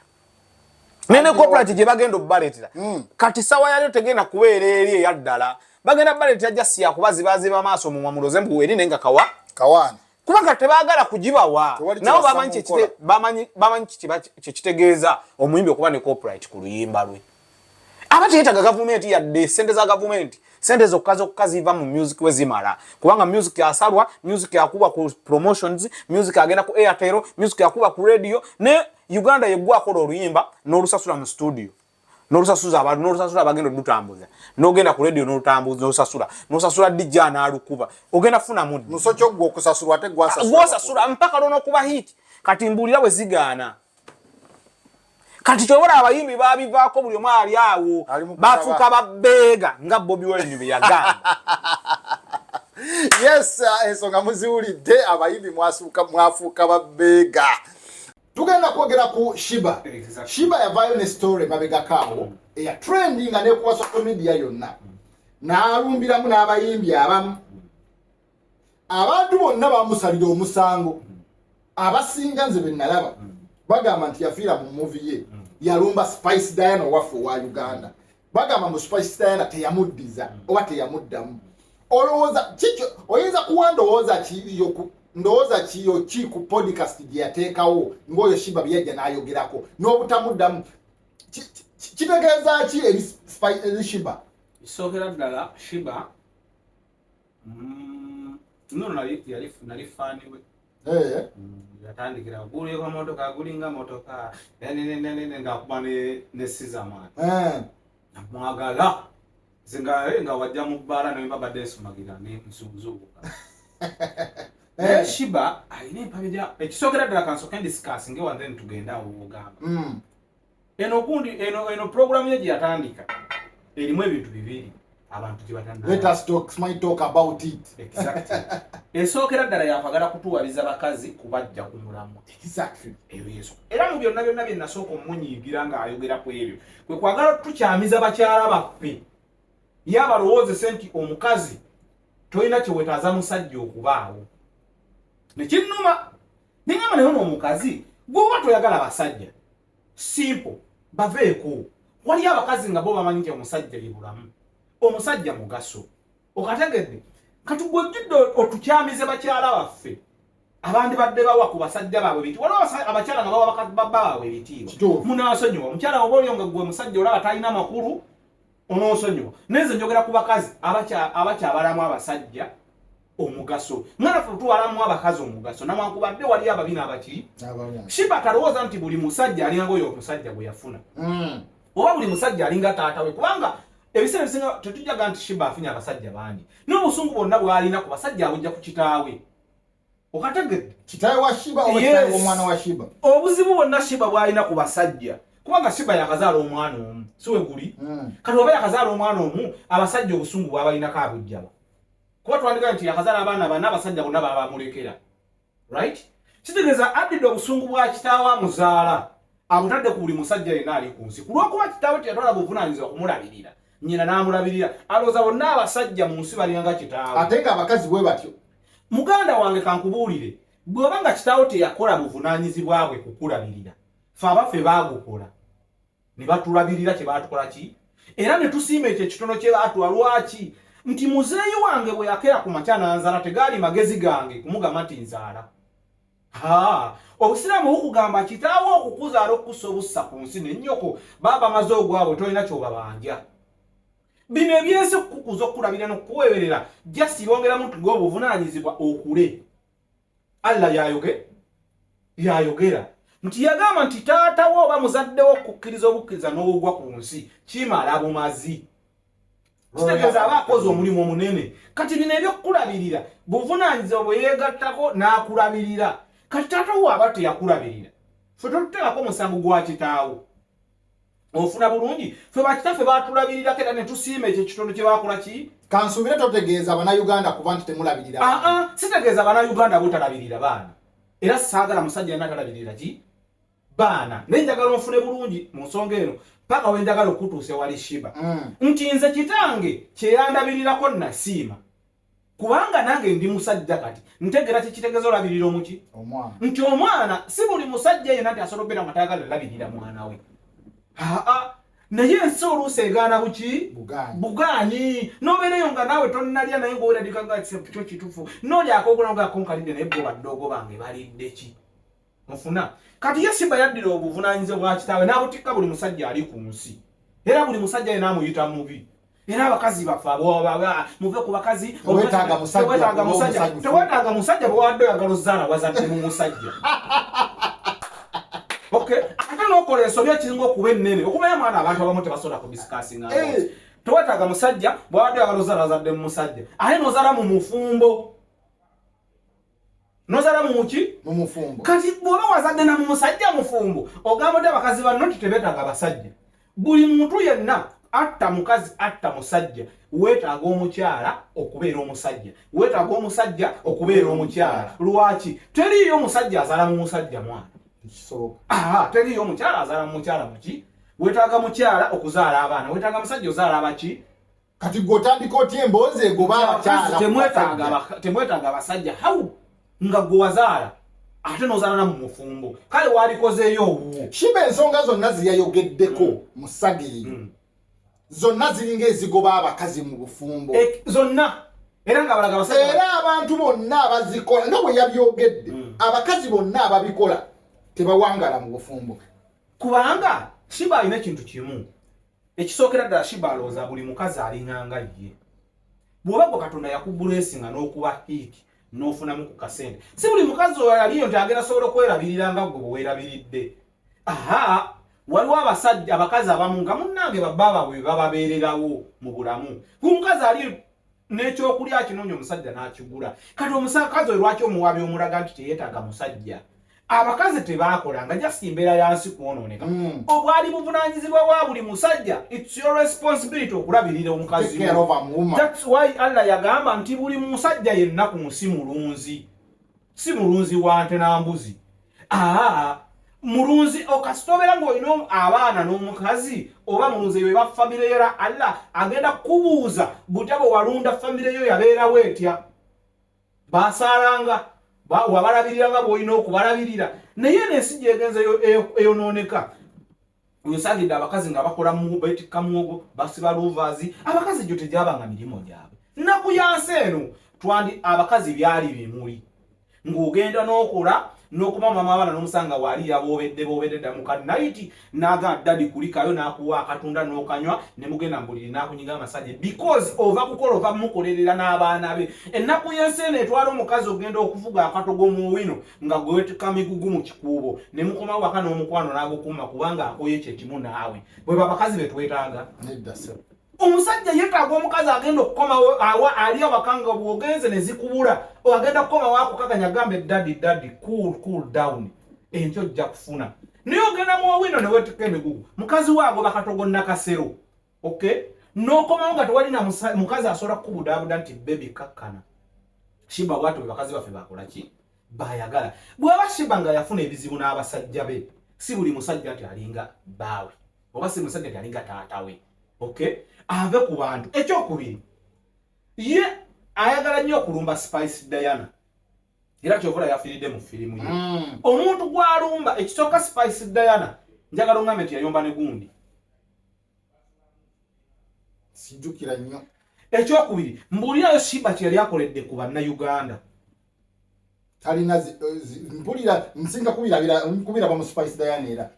naye ne copyright gye bagenda okubaleetera hmm. kati sawa yalyo tegenda kubeera eri eyaddala bagenda baleetera jasi yakuba zibaziba amaaso mumwa muloze mbu eri naye nga kawa kawaana kuba nga tebaagala kugibawa nabo bamanyi kyekitegeeza omuyimbi okuba ne copyright ku luyimba lwe aba teyetaga gavumenti yadde sente za gavumenti sente zokka zokka ziva mu music we zimala kubanga music asalwa music akuba ku promotions music agenda ku airtel music akuba ku radio ne uganda yegwa akola oluyimba n'olusasula mu studio n'olusasuza abantu n'olusasula abagenda olutambuza n'ogenda ku radio n'olutambuza n'olusasula n'osasula dj anaalukuba ogenda funa muddi musoki ogwo okusasulwa ate gwasasula mpaka lwonokuba hit kati mbuulira bwe zigaana kati kyobola abayimbi babivaako buli omu ali awo bafuuka babeega nga bobi wine beyagamba yes uh, ensonga muziwulidde abayimbi mwafuuka babeega tugenda kwogera ku shiba shiba yavaayo ne story mabegakaawo eya trendinga nekuwa social media yonna naalumbiramu n'abayimbi abamu abantu bonna bamusalira omusango abasinga nze benalaba bagamba nti yafiira mu muvi ye yalumba spice diana owaffe owa uganda bagamba mu spice diana teyamuddiza oba teyamuddamu olowooza kikyo oyinza kuwa ndowooza kiyo ndowooza kiyo ki ku podcast gye yateekawo ngaoyo shiba byeyajja n'ayogerako n'obutamuddamu kitegeeza ki eri shiba ekisookera ddala shiba Mm, tunono nali yali nali fani we. Eh. Mm, yatandikira gulu yeko motoka gulinga motoka. Yani ne ne ne nga kuba ne ne siza man. Eh. Namwagala. Zinga eh, nga wajja mu bara ne baba desu magira ne mzungu. Eh shiba ayine pamija ekisokera dala kanso kendi skas ngewa then tugenda uwo gamba. Mm. eno gundi eno eno program ye yatandika elimu ebintu bibiri abantu gye batandika let us talk my talk about it exactly esookera ddala yakwagala kutuwaliza bakazi kubajja ku mulamu exactly eyo yesu era mu byonna byonna bye nasooka omunyiigira nga ayogera ku ebyo kwe kwagala tukyamiza bakyala baffe yabalowoozese nti omukazi tolina kyewetaaza musajja okubaawo nekinnuma nengamba naye ono omukazi gwoba toyagala basajja simple baveeko waliyo abakazi nga bo bamanyi nti omusajja ye bulamu omusajja mugaso okategedde katugwejjudde otukyamize bakyala baffe abandi badde bawa ku basajja baabwe biti waliwo abakyala nga bawa babba baabwe ebitiibwa munasonyiwa omukyala oba olyo nga gwe musajja olaba talina makulu ononsonyiwa naye nze njogera ku bakazi abakyabalamu abasajja omugaso mwana fe otwalamu abakazi omugaso nawankubadde wali ababina abaki shiba talowooza nti buli musajja alinga oyo omusajja gwe yafuna mm. oba buli musajja alinga taata we kubanga ebiseera ebisinga tetujaga nti shiba afunye abasajja bangi nobusungu bwonna bwalina ku basajja abujja ku kitaawe okategedde kitawe wa shiba oba kitawe Yes. w'omwana wa shiba obuzibu bwonna shiba bwalina ku basajja kubanga shiba yakazaala omwana omu si we guli Mm. kati oba yakazaala omwana omu abasajja obusungu bwabalinako abujjaba kuba twandigaa nti yakazaala abaana bana abasajja bonna babamulekera right kitegeeza addidde obusungu bwa kitaawe amuzaala abutadde ku buli musajja yenna ali ku nsi ku lwokuba kitaawe teyatwala buvunanyizibwa kumulabirira nyina n'amulabirira alowooza bonna abasajja mu nsi balina nga kitaawe ate nga abakazi bwe batyo muganda wange kankubuulire bw'oba nga kitaawo teyakola buvunaanyizibwa bwe kukulabirira fe abaffe baagukola ne batulabirira kye baatukola ki era ne tusiima ekyo ekitono kye baatuwa lwaki nti muzeeyi wange bwe yakera ku makya n'anzaala tegaali magezi gange kumugamba nti nzaala obusiraamu bukugamba kitaawo okukuzaala okukusa obussa ku nsi nenyoko baba bamaze ogwabwe tolina kyobabanja bino ebyensi okukukuza okukulabira nokukuweberera jasi bongeramu nti gwe obuvunanyizibwa okule allah yayoge yayogera nti yagamba nti taatawo oba muzaddewo okukkiriza obukkiriza n'obugwa ku nsi kimala bumazi kitegeeza aba akoze omulimu omunene kati bino ebyokukulabirira buvunaanyizibwa bwe yeegattako n'akulabirira kati taata wo aba teyakulabirira fe totuteekako omusango gwa kitaawo ofuna bulungi fe bakitaffe batulabirirako era ne tusiima ekyo ekitundu kye bakola ki kansuubire totegeeza banauganda kuba nti temulabirira aa ah, ah, sitegeeza banauganda botalabirira baana era saagala musajja yena atalabirira ki baana naye njagala onfune bulungi mu nsonga eno paka we njagala okutuusa ewali shiba mm. nti nze kitange kyeyandabirirako nasiima kubanga nange ndi musajja kati ntegera kikitegeeza olabirira omuki nti omwana si buli musajja yena nti asobola obeera nga tayagala labirira mwana we aa naye ensi oluusi egaana buki bugaanyi nobeereyo nga naawe tonalya naye ngaoweradikagaekyo kitufu nolyakogula nga akonkalidde naye goba ddogo bange balidde ki mufuna kati ye simba yaddira obuvunanyizibwa bwa kitaawe n'abutikka buli musajja ali ku nsi era buli musajja yena amuyita mubi era abakazi bafe muve ku bakazi tewetaaga musajja bwewadde oyagala ozaala wazadde mu musajja ate nokola ensobi ekiringa okuba ennene okubayo mwana abantu abamu tebasobola kudisikasinga eh. tewetaaga musajja bwewadde oyagala ozaala wazadde mu musajja ate nozaala mu mufumbo nozala mumuki mumufumbo kati bwoba wazadde na mumusajja mufumbo ogamba oti abakazi banno nti tebetaaga abasajja buli muntu yenna atta mukazi atta musajja weetaaga omukyala okubeera omusajja weetaaga omusajja okubeera omukyala lwaki teriiyo omusajja azala mu musajja mwana aa teriiyo omukyala azala mu mukyala muki weetaaga mukyala okuzaala abaana weetaaga musajja ozaala abaki kati gwe otandika otya emboozi egoba abakyalatemwetaaga abasajja hawu nga gwe wazaala ate nozaala namu mufumbo kale walikozeeyo owuwo shiba ensonga zonna zeyayogeddeko mm. mu sagiri mm. zonna ziringa ezigoba abakazi mu bufumbo eh, zonna era nga balaga abasajja era abantu bonna abazikola nga bwe yabyogedde mm. abakazi bonna ababikola tebawangala mu bufumbo kubanga shiba alina ekintu kimu ekisookera ddala shiba alowooza buli mukazi alinganga ye bw'oba gwe katonda yakubulesinga n'okuba hiiti n'ofunamu ku kasente si buli mukazi oyo aliyo nti agenda sobola okwerabirira nga gwe bwewerabiridde aha waliwo abasajja abakazi abamu nga munnange babaababwe bababeererawo mu bulamu ku mukazi ali n'ekyokulya akinoonya omusajja n'akigula kati omusakazi oyo lwaki omuwaabi omulaga nti teyetaaga musajja abakazi tebakola nga jasi embeera yansi kwonooneka hmm. obwali buvunanyizibwa wa buli musajja its your responsibility okulabirira omukazi thats why allah yagamba nti buli musajja yenna ku nsi mulunzi si mulunzi wa nte na mbuzi aa mulunzi okasita obeera ng'olina abaana n'omukazi oba mulunzi eyo eba famire yo era allah agenda kukubuuza butya bwe walunda famire yo yabeerawo etya baasaalanga wabalabiriranga bw'olina okubalabirira naye n'ensi gyegenza eyonooneka Nsangidde abakazi nga bakola mu beetikka muwogo basiba luuvaazi abakazi gyo tegyabanga mirimu gyabwe nnaku yansi eno twandi abakazi byali bimuli ng'ogenda n'okola n'okuba mama abaana n'omusanga waali yaboobedde boobedde dda muka nayiti n'aga dadi kulikayo n'akuwa akatunda n'okanywa ne mugenda mbuliri n'akunyiga amasaje because ova kukola ova mukolerera n'abaana be ennaku y'ensi eno etwala omukazi ogenda okuvuga akatogo mu wino nga gwe wetuka migugu mu kikuubo ne mukoma waka n'omukwano n'agukuuma kubanga akoye kye kimu naawe bwe babakazi be twetaaga omusajja yetaaga omukazi agenda okukomawo awa ali awaka nga bwogenze ne zikubula agenda kukomawo akukakanya gambe dadi dadi cool cool down enkyo ojja kufuna naye ogenda mu owino ne wetuka emigugu mukazi waago bakatogo nakasero okay nokomawo nga tewali na mukazi asobola kukubudaabuda nti bebi kakkana shiba bwati bwe bakazi baffe bakola ki bayagala bwaba shiba nga yafuna ebizibu n'abasajja be si buli musajja nti alinga baawe oba si musajja nti alinga taata we okay ave ku bantu ekyokubiri ye ayagala nnyo okulumba spice diana era kyovula yafiridde mu firimu ye mm. omuntu gwalumba ekisooka spice diana njagala ongambe nti yayomba ne gundi sijukira nnyo ekyokubiri mbuulirayo simba kye yali akoledde ku bannayuganda talina eh, mpulira nsinga kubirabira bamu spice diana era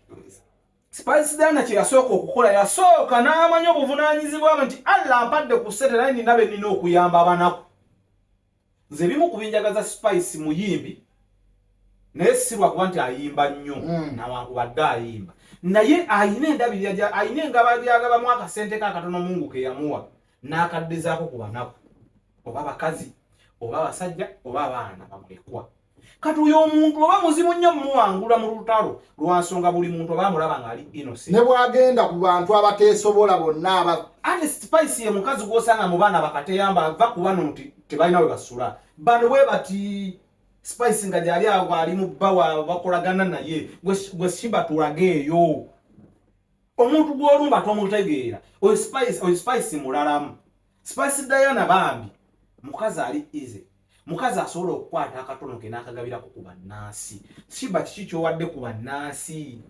spice diana kye yasooka okukola yasooka n'amanya obuvunaanyizibwa bwe nti allah ampadde ku sete naye nina be nina okuyamba abanaku nze ebimu ku binjagaza spice muyimbi naye sirwa kuba nti ayimba nnyo mm. nawankubadde ayimba naye ayina endabirira ayina engaba gyagabamu akasente kakatono mungu keyamuwa n'akaddezaako ku banaku oba abakazi oba abasajja oba abaana bamulekwa kati oyo omuntu oba muzibu nnyo muwangula mu lutalo lwansonga buli muntu oba amulaba ngaali innocent ne bwagenda ku bantu abateesobola bonna aba ate spice ye mukazi gwosanga mu baana bakateyamba ava ku bano nti tebalina we basula bano bwe bati spice nga gyali awo ali mu bba wa bakolagana naye gwe shiba tulageeyo omuntu gwolumba tomutegeera oyo spice mulalamu Spice Diana bambi mukazi ali easy mukazi asobola okukwata akatono ke n'akagabirako ku bannansi shiba kiki kyowadde ku bannansi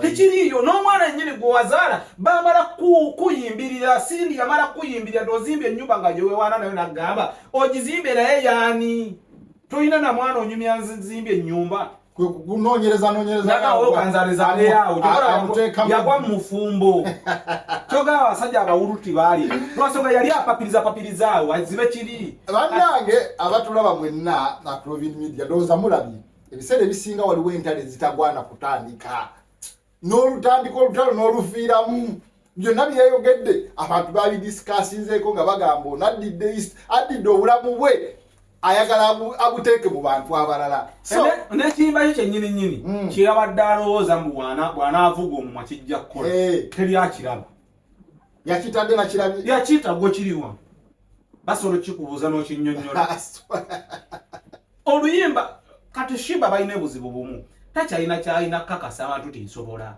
tekiriiyo n'omwana nyini gwe wazaala bamala kuyimbirira sindi yamala kuyimbirira tozimba ennyumba nga gyewewaana nayo nagamba ogizimbe naye yaani tolina na mwana onyumya nzimba ennyumba kunonyereza nonyerezayagwa mufumbo kyoga abasajja abawuluti baali lwasonga yali apapiriza papiriza awo azibe kiri banange abatulaba mwenna aprovinmedia ndowooza mulabye ebiseera ebisinga waliwo entale ezitagwana kutandika n'olutandika olutalo n'olufiiramu byonna byeyogedde abantu babidisikasinzeeko nga bagamba ono addidde east addidde obulamu bwe ayagala abuteeke mu bantu abalala nekiyimba kyo kyenyini nyini hmm. kyeyabadde alowooza mu bwanaavuga omumwa kijja kukola eh. teri akiraba yakitadde nakirabye yakita gwe kiriwa basobola okukikubuuza n'okinyonyola oluyimba kati shiba balina ebuzibu bumu takyalina kyalina kakasa abantu tinsobola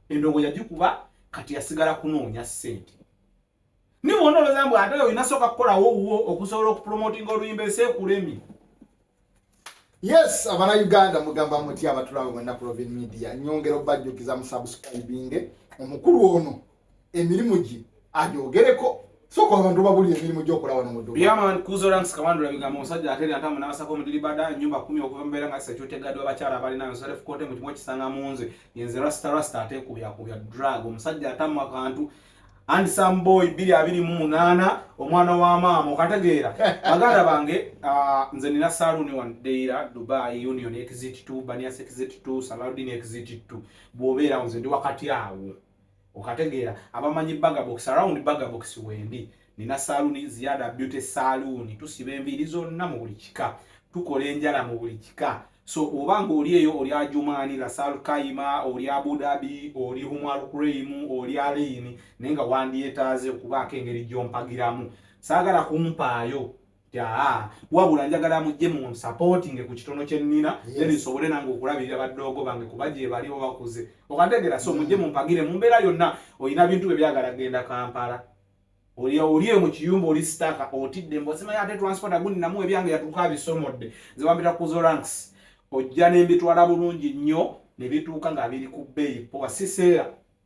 endongo yagikuba kati yasigala kunoonya ssente niwe onooloza mbu ate olina sooka kukolawo wuwo okusobola okupromotinga oluyimba ensi ekulemi yes abana uganda mugamba muti abatulawe mwenna ku lovin media nyongera obajjukiza musubscribinge omukulu ono emirimu gye agyogereko soka abantu babulira emirimu gyokola wano mu duyaman kuzoranks kawandu labigambo omusajja ateri antamu n'abasako omudiribada nyumba kumi okuva mubeera nga secutegadde w'abakyala abalina yosarefu kote mu kimu okisanga mu nze yenze rasta rasta atekubyakuubya drug omusajja atamu akantu and some boy biri abiri mu munaana omwana wa maama okategeera baganda bange ah, nze nina saluuni one deira dubai union exit two banias exit two saladin exit two bw'obeera nze ndi wakati awo okategeera abamanyi bagabox around bagabox wendi nina saluuni ziyada beauty saluuni tusiba enviiri zonna mu buli kika tukola enjala mu buli kika so oba nga oli eyo oli ajumaani lasal kaima oli abudabi oli humarukuraimu oli aliini naye nga wandyetaaze okubaako engeri gyompagiramu saagala kumpaayo yaa wabula njagala amujje mu supporting ku kitono kye nnina then nsobole nange okulabirira baddoogo bange kuba gye bali bo bakuze okantegera so mujje mm. mumpagire mu mbeera yonna olina bintu bye byagala genda kampala oli oli mu kiyumba oli sitaka otidde mbosimayo ate transport aguninamu ebyange yatuuka abisomodde nze bambira ku zo ranks ojja nembitwala bulungi nnyo ne bituuka nga biri ku bbeeyi powa siseera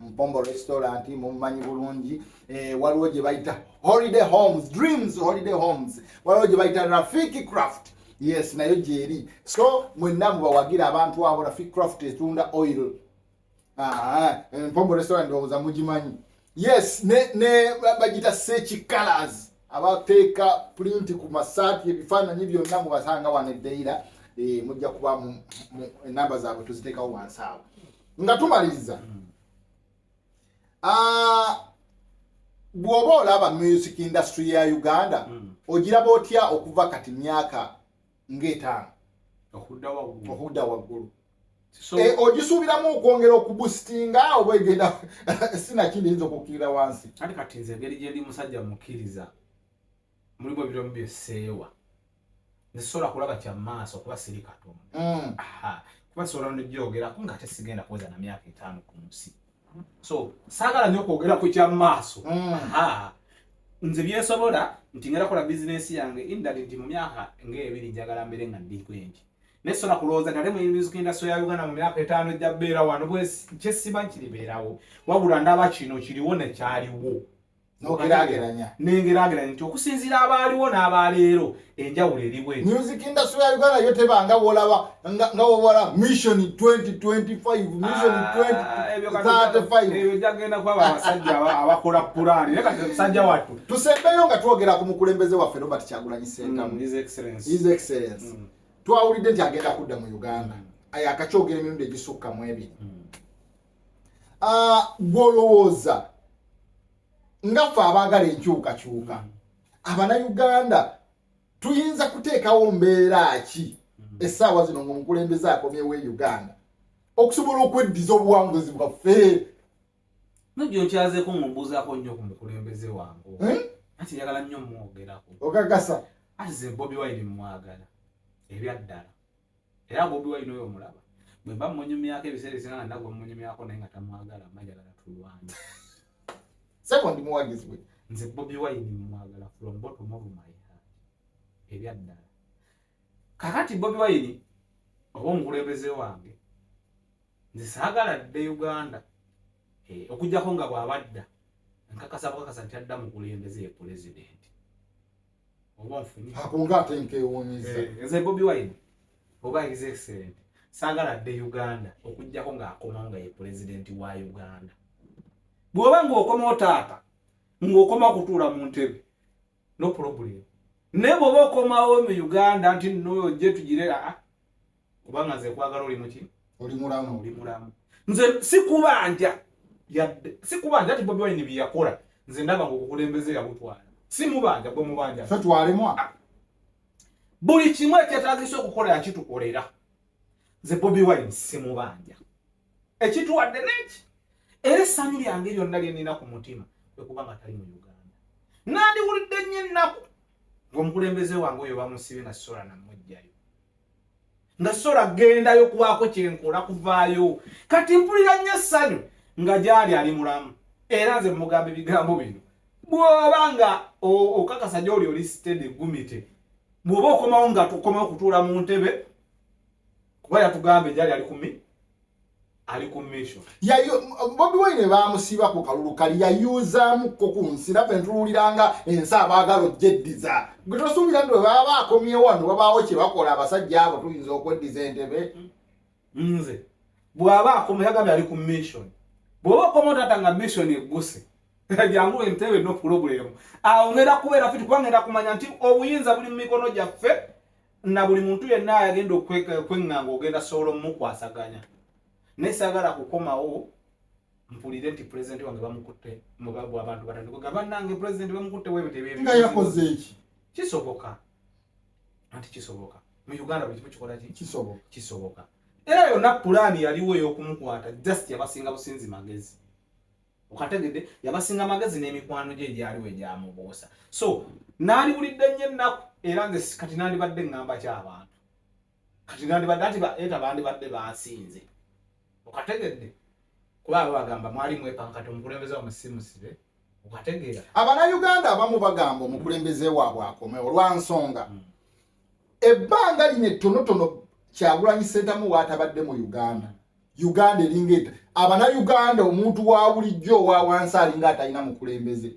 mpombo restaurant mumumanyi bulungi eh, waliwo gye bayita holiday homes dreams holiday homes waliwo gye bayita rafiki craft yes nayo gyeri so mwenna mubawagira abantu abo rafiki craft etunda oil ah, eh, mpombo restaurant owoza mugimanyi yes ne, ne bagita sechi colors abateeka pulinti ku masaati ebifaananyi byonna mubasanga wano eddeira eh, mujja kuba enamba zaabwe tuziteekawo wansi awo nga tumaliriza mm. ah, bw'oba olaba music industry ya uganda mm. ogiraba otya okuva kati myaka ng'etaano okudda waggulu eh, ogisuubiramu okwongera okubusitinga oba egenda sinakindi yinza okukkirira wansi kati kati nze engeri gyendi musajja mukkiriza mulimu ebiramu bye seewa nesobola kulaba kya maaso kuba siri katonda mm. kuba sobola nojoogerako nga ate sigenda kuweza na myaka etaano ku nsi so saagala nyo okwogera ku kya maaso mm. nze byensobola nti ngera kola bizinesi yange indali nti mu myaka ngaebiri njagala mbere nga ndikwengi naye sobola kulowooza nale muyinza kugenda soya uganda mu myaka etaano ejja beera wano kyesiba nkiribeerawo wabula ndaba kino kiriwo nekyaliwo nogerageranya nengerageranya nti okusinziira abaaliwo n'abaleero enjawulo eriwe music industry ya uganda yo tebanga wolaba nga wowola mission 2025ebyo jagenda kwaba abasajja abakola pulaani naye kati musajja wattu tusembeyo nga twogera ku mukulembeze waffe robert kyagulanyi sentamu mm, his excellence his excellence mm. twawulidde nti agenda kudda mu uganda mm. ayakakyogera emirundi egisukka mu ebiri ah, gwolowooza nga ffe abaagala enkyukakyuka abanauganda tuyinza kuteekawo mbeera ki mm-hmm. essaawa zino ngaomukulembeze akomyewo e uganda okusobola okweddiza obuwanguzi bwaffe nogyokyazeko ngaombuuzaako nnyo ku mukulembeze wange eh? anti njagala nnyo mwogerako okakasa ati ze bobi wine mwagala ebyaddala era bobi wine oyo omulaba bwemba munyumyako ebiseera esinga nga nagwa munyumyako naye nga tamwagala majagala tulwana sebo ndi muwagizi we nze bobi wine mwagala from bottom of my heart ebyaddala kakati bobi wine oba omukulembeze wange nze saagala dde uganda eh, okujjako nga bwabadda nkakasa bukakasa nti adda mukulembeze ye pulezidenti akunga ate nkewuunyiza eh, nze bobi wine oba his excellent saagala dde uganda okujjako ng'akomawo nga ye pulezidenti wa uganda bw'oba ng'okomawo taata ng'okomawo kutuula mu ntebe no problem naye bw'oba okomawo mu uganda nti noyo gye tugire aa ah, ah. kubanga nze kwagala oli muki oli mulamu oli mulamu nze sikubanja yadde sikubanja ati bobi wine byeyakola nze ndaba ngaokukulembeze yabutwala simubanja gwe mubanja fe twalemwa ah. buli kimu ekyetagisa okukola yakitukolera nze bobi wine simubanja ekitwadde neki era essanyu lyange lyonna lyenina ku mutima ekuba nga tali mu uganda nandiwulidde nnyo ennaku ngaomukulembeze wange oyo bamusibe nga sola namwe nga sola gendayo kubaako kyenkola kuvaayo kati mpulira nnyo essanyu nga gyali ali mulamu era nze mugamba ebigambo bino bwoba nga okakasa gyoli oli sitede gumite bwoba okomawo nga tukomawo kutuula mu ntebe kuba yatugamba egyali ali kumi ali ku mission yayo bobi wine bamusiba ku kalulu kali yayuzamu ko ku nsira pe ntululiranga ensa abagalo jeddiza gito subira ndo baba akomye wano baba oche bakola abasajja abo tuyinza okweddiza entebe nze bwaba akomye yagabe ali ku mission bwaba akomye tatanga mission eguse jangu entebe no problem awo ngera kubera fiti kwangera kumanya nti obuyinza buli mu mikono gyaffe na buli muntu yenna ayagenda okweŋŋanga ogenda sobola omukwasaganya naye saagala kukomawo mpulire nti pulezidenti wange bamukutte mubabu abantu batandikoga bannange pulezidenti bamukutte webitebyenga yakoze eki kisoboka anti kisoboka mu uganda buli kimu kikola ki kisoboka kisoboka era yonna pulaani yaliwo ey'okumukwata just yabasinga businzi magezi okategedde yabasinga magezi n'emikwano gye egyaliwo egyamubuusa so naaliwulidde nnyo ennaku era nze kati nandibadde ŋŋamba ky abantu kati nandibadde anti eta bandibadde bansinze okategedde kuba abo bagamba mwali mwepankati omukulembeze wamusimusibe okategeera abanauganda abamu bagamba omukulembeze waabwe akome olwansonga hmm. ebbanga lino ettonotono kyagulanyi sentamu waatabadde mu uganda uganda eringa eta abanayuganda omuntu wa bulijjo owa wansi alinga atalina mukulembeze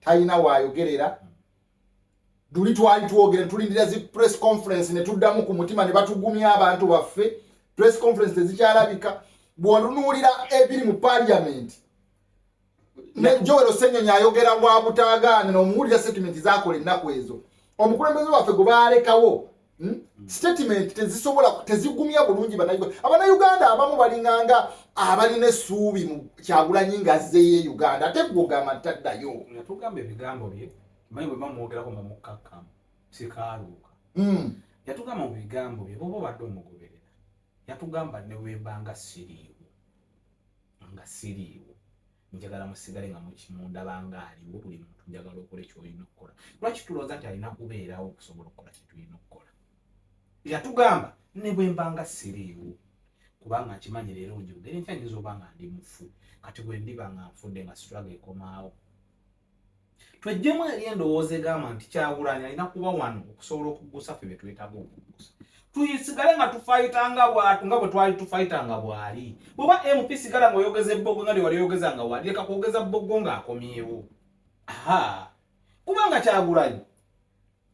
talina wayogerera tuli twali twogere tulindira zi press conference ne tuddamu ku mutima ne batugumya abantu baffe press conference tezikyalabika bwonunuulira ebiri mu parliament ne Joel Osenyonyi ayogera wa butaagaana n'omuwulira sitetimenti zaakola ennaku ezo omukulembeze waffe gwe baalekawo hmm? hmm. sitetimenti tezisobola tezigumya bulungi banauganda abanauganda abamu balinganga abalina essuubi mu kyagulanyi nga azzeeyo e uganda ate gwe ogamba nti taddayo yatugamba ebigambo bye manyi bwe bamwogerako nga mukkakkamu sikaaluuka hmm. yatugamba mu bigambo bye boba obadde omugoberera yatugamba ne wembanga siriiwo nga siriiwo njagala musigale nga mukimundaba nga aliwo buli muntu njagala okole kyolina okukola lwaki tulooza nti alina kubeerawo okusobola okukola kyetulina okukola yatugamba ne bwemba nga siriiwo kubanga nkimanyi leero njogere ntya nyinza oba nga ndi mufu kati bwe ndiba nga nfudde nga sitwaga ekomaawo twejjemu eri endowooza egamba nti kyagulanyi alina kuba wano okusobola okuggusa ffe byetwetaaga okuggusa tuyisigale nga tufayita nga bwatu nga bwetwali tufayita nga bwali bwoba mp sigala nga oyogeza ebbogo nga lyewali oyogeza nga wali leka kwogeza bbogo nga akomyewo aha kubanga kyagulanyi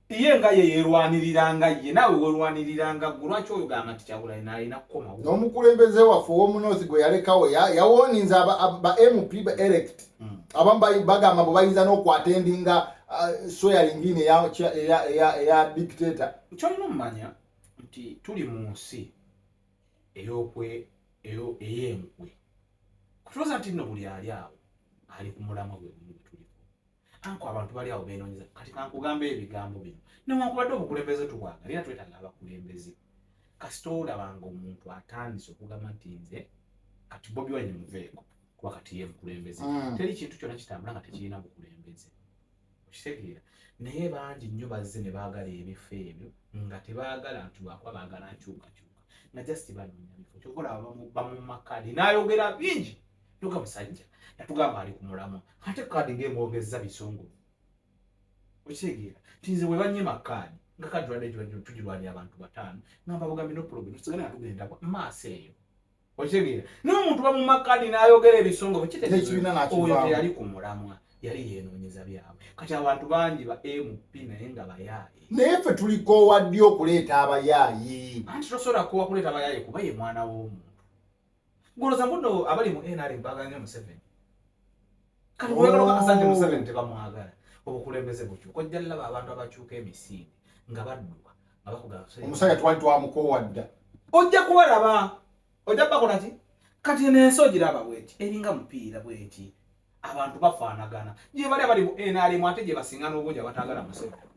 ye nga ye yerwaniriranga ye naawe werwaniriranga gwe lwaki oyo gamba nti kyagulayo nalina kukomawo n'omukulembeze waffe ow'omunoosi gwe yalekawo yawoninze ba mp ba elect hmm. abamu bagamba bwe bayinza n'okwata endinga uh, sweyaringini eya dictator kyolina omumanya nti tuli mu nsi eyokwe ey'enkwe kutuloza nti nno buli ali awo ali ku mulamwa gwe gumu gwetuliko anko abantu bali awo beenonyeza kati kankugamba ebigambo bino newankubadde obukulembeze tubwaga era twetaaga abakulembeze kasita olaba nga omuntu atandise okugamba nti nze kati bobi wine muveeko kuba kati ye mukulembeze mm. teri kintu kyona kitambula nga tekirina bukulembeze okitegeera naye bangi nnyo bazze ne baagala ebifo ebyo nga tebaagala nti lwakuba baagala nkyukakyuka nga just banoonya bifo kyokola bamumakadi n'ayogera bingi Luka musajja yatugamba ali ku mulamwa ate kaadi ng'emwogezza bisungu okitegeera nti nze bwe banyima kaadi nga kaadi lwadde gibadde tugirwanira abantu bataano ngamba bugambi nopulogwe tusigale nga tugenda maaso eyo okitegeera naye omuntu bamuma kaadi n'ayogera ebisongo bwekitegeoyo teyali ku mulamwa yali yenoonyeza byabwe kati abantu bangi ba mp naye nga bayaaye naye ffe tulikoowa ddi okuleeta abayaayi anti tosobola kuwa kuleeta abayaaye kuba ye mwana w'omuntu Guloza mbuno abali mu NRM baganya Museveni. Kati wewe oh. kasanje Museveni tebamwagala. Obukulembeze bukyo. Ko jalla ba abantu abachuka emisinde nga badduka nga bakugala. Omusaya twali twamukowadda. Ojja kubalaba. Ojja bakola ki? Kati nenso giraba bweti. Eringa mupiira bweti. Abantu bafaanagana. Je bali abali mu NRM ate je basinga n'obungi abatagala Museveni.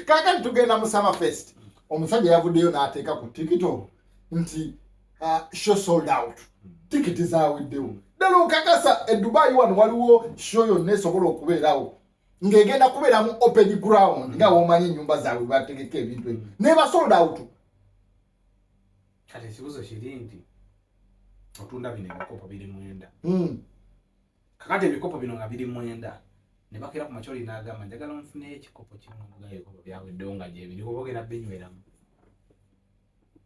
kakati tugenda mu summer fest omusajja yavuddeyo n'ateeka ku tikito nti uh, show sold out tikiti zaweddewo ddala okakasa edubayi wano waliwo show yonna esobola okubeerawo ng'egenda kubeeramu open ground nga womanyi ennyumba zaabwe bategeka ebintu ebyo neba sold out kati ekibuzo kiri nti otunda bino ebikopo biri mwenda hmm. kakati ebikopo bino nga biri mwenda ne bakera ku makyoli n'agamba njagala nfune ekikopo kimu nga ebikopo byaweddewo nga gyebiri oba ogenda binyweramu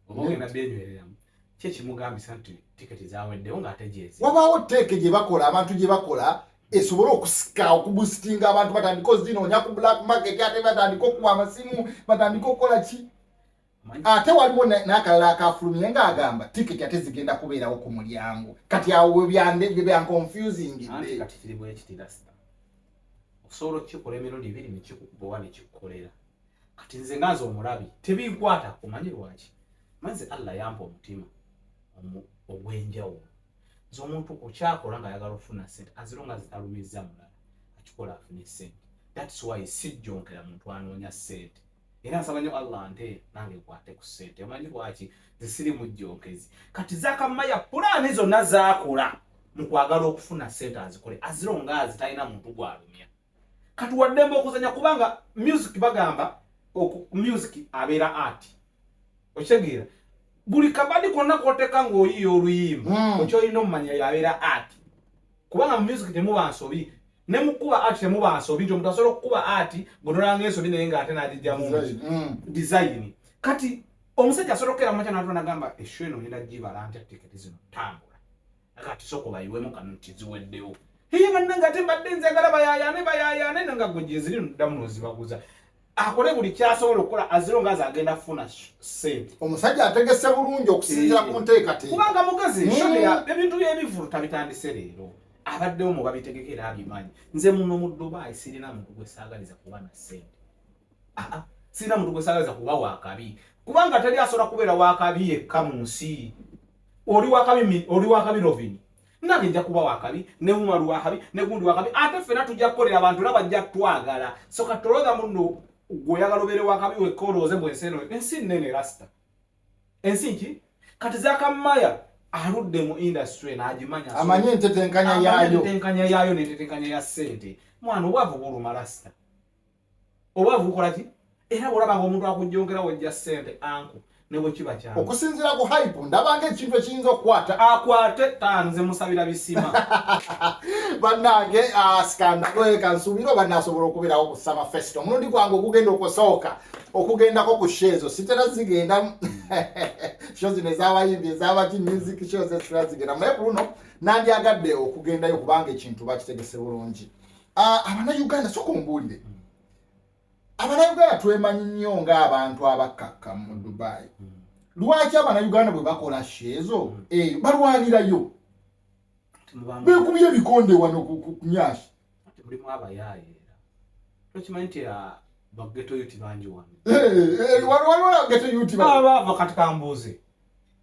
oba ogenda byenywereramu kye kimugambisa nti tiketi zaweddewo ng'ate gyezi wabaawo teeke gye bakola abantu gye bakola esobole okusika okubusitinga abantu batandika ozinoonya ku black market ate batandika okuwa amasimu batandika okukola ki ate waliwo n'akalala akafulumye nga agamba tiketi ate zigenda kubeerawo ku mulyango kati awo byankonfusingideosobola okukikola emirundi ebiri nekikubowa nekikukolera kati nze nga nze omulabi tebinkwata omanyi lwaki manze allah yampa omutima ogwenjawulo nze omuntu okyakola nga ayagala okufuna sente aziro nga zitalumizza mulala akikola afune sente thats why sijjonkera muntu anoonya sente era nsaba nyo Allah nte nange kwate ku sente omanyi lwaki zisiri mu jjonkezi kati zakamaya pulaani zonna zaakula mu kwagala okufuna sente azikole aziro nga azitalina muntu gwalumya kati waddembe okuzanya kubanga music bagamba music abeera art okitegeera buli kabadi konna koteka ng'oyiiya oluyimba hmm. okyolina omumanya yabeera art kubanga mu music temuba nsobi ne mukuba art temuba nsobi nti omuntu asobola okukuba art bwonolanga ensobi naye nga ate n'agijjamu design mm. kati omusajja asobola okukeera mumakya n'atula nagamba esho eno ngenda gibala ntya tiketi zino tambula akati sooka obayiwemu kano nti ziweddewo hiye bannange ate mbadde nze agala bayayaane bayayaane nanga gwe gyeziri noddamu nozibaguza akole buli kyasobola okukola aziro ngazi agenda kufuna sente omusajja ategese bulungi okusinzira ku eh. nteekateeka kubanga mugezi hmm. shodeya ebintu by'ebivulu tabitandise leero abaddewo mu babitegeka era abimanyi nze muno mu dubai sirina muntu gwe saagaliza kuba na sente aa sirina muntu gwe saagaliza kuba wakabi kubanga teri asobola kubeera wakabi yekka mu nsi oli wakabi oli wakabi rovini nange nja kuba wakabi ne umaru wakabi ne gundi wakabi ate ffena tujja kukolera abantu era bajja twagala so kati olowooza muno gweoyagala obeere wakabi wekka olowooze mbu ensi eno ensi nnene rasita ensi nki kati zakamaya aludde mu industry n'agimanya amanyi entetenkanya yaayo entetenkanya yaayo n'entetenkanya ya ssente mwana obwavu buluma rasita obwavu bukola ki era bwolaba nga omuntu akujongera wojja sente anku nebwekiba kya okusinzira ku hype ndabanga ekintu ekiyinza okukwata akwate tanze musabira bisima bannange asikandaeka ah, nsuubira oba nasobola okubeerawo ku summer fest omulundi gwange ogugenda okusooka okugendako ku sho ezo sitera zigenda sho zino ezabayimbi ezabaki music sho zesitera zigenda naye ku luno nandyagadde okugendayo kubanga ekintu bakitegese bulungi abanayuganda soka ombuulire hmm. abanayuganda twemanyi nnyo ng'abantu abakkakka mu dubai hmm. lwaki abanayuganda bwe bakola sheezo hmm. eyo balwanirayo bekubye ebikonde wano kunyashi waliwo geto yuti baba vakati kambuuze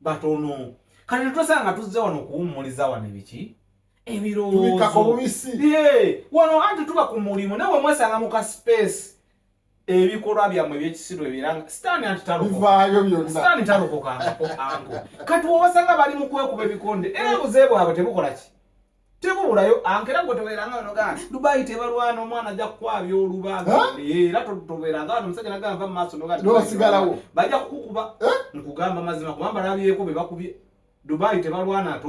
batono kati netwesanga tuzze wano okuwummuliza wano ebiki ebirowoozo wano anti tuba ku mulimu nawe mwesanga mu ka space ebikolwa byammwe ebyekisiru ebiranga sitaani anti talokokaani talokoka anko kati wowasanga bali mu kwekuba ebikonde era obuze bwabwe tebukola ki tebulayo ankera gwe tobeeranga wano gana dubai tebalwana omwana ajja kukwabya olubaga era tobeeranga wano omusajja nagamba va mumaaso nogasigalawo bajja kukukuba nkugamba mazima kubamba nabyeko be bakubye dubai tebalwana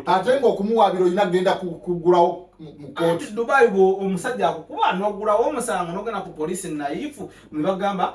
ate nga okumuwabira olina kugenda kugulawo mukooti dubai omusajja akukuba nogulawo omusango nogenda ku polisi naifu nebagamba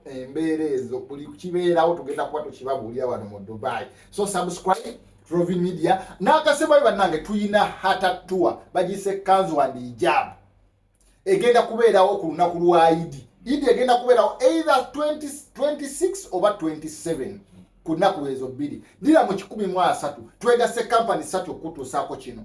embeera ezo buli kibeerawo tugenda kuba tukibabuulira wano mu dubai so subscribe trovi media n'akasembayo bannange tulina hatatua bagiyisa ekkanzu wandi ijaabu egenda kubeerawo ku lunaku lwa idi idi egenda kubeerawo either 26 oba 27 ku nnaku ezo bbiri dira mu kikumi mu asatu twegase kampani satu okutuusaako kino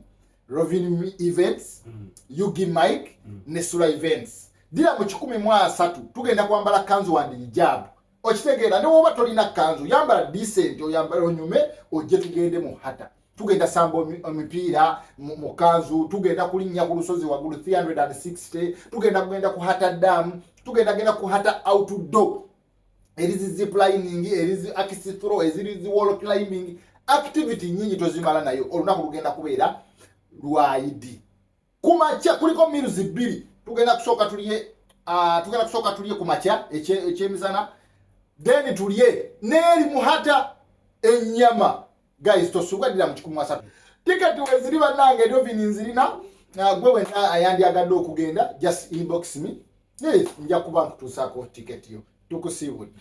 Rovin Events, mm. Yugi Mike mm. ne Sula Events. Dira mu kikumi mu asatu tugenda kwambala kanzu wandi hijab. Okitegeera ne woba tolina kanzu yambala decent oyambala onyume ojje tugende mu hata. Tugenda samba omipiira mu kanzu tugenda kulinnya ku lusozi waggulu 360 tugenda kugenda ku hata dam tugenda genda ku hata outdoor eri zi ziplining eri zi akisithro eziri zi wall climbing activity nyingi tozimala nayo olunaku lugenda kubeera lwaidi kumakya kuliko miruzi bbiri tugenda kusooka tulye uh, tugenda kusooka tulye ku makya ekyemizana then tulye neeri muhata ennyama guys tosubwa dira mu kikumu asatu ticket weziri banange ndio vini nzirina na gwe wena ayandi agado okugenda just inbox me yes nja kuba nkutusako ticket yo tukusiwudi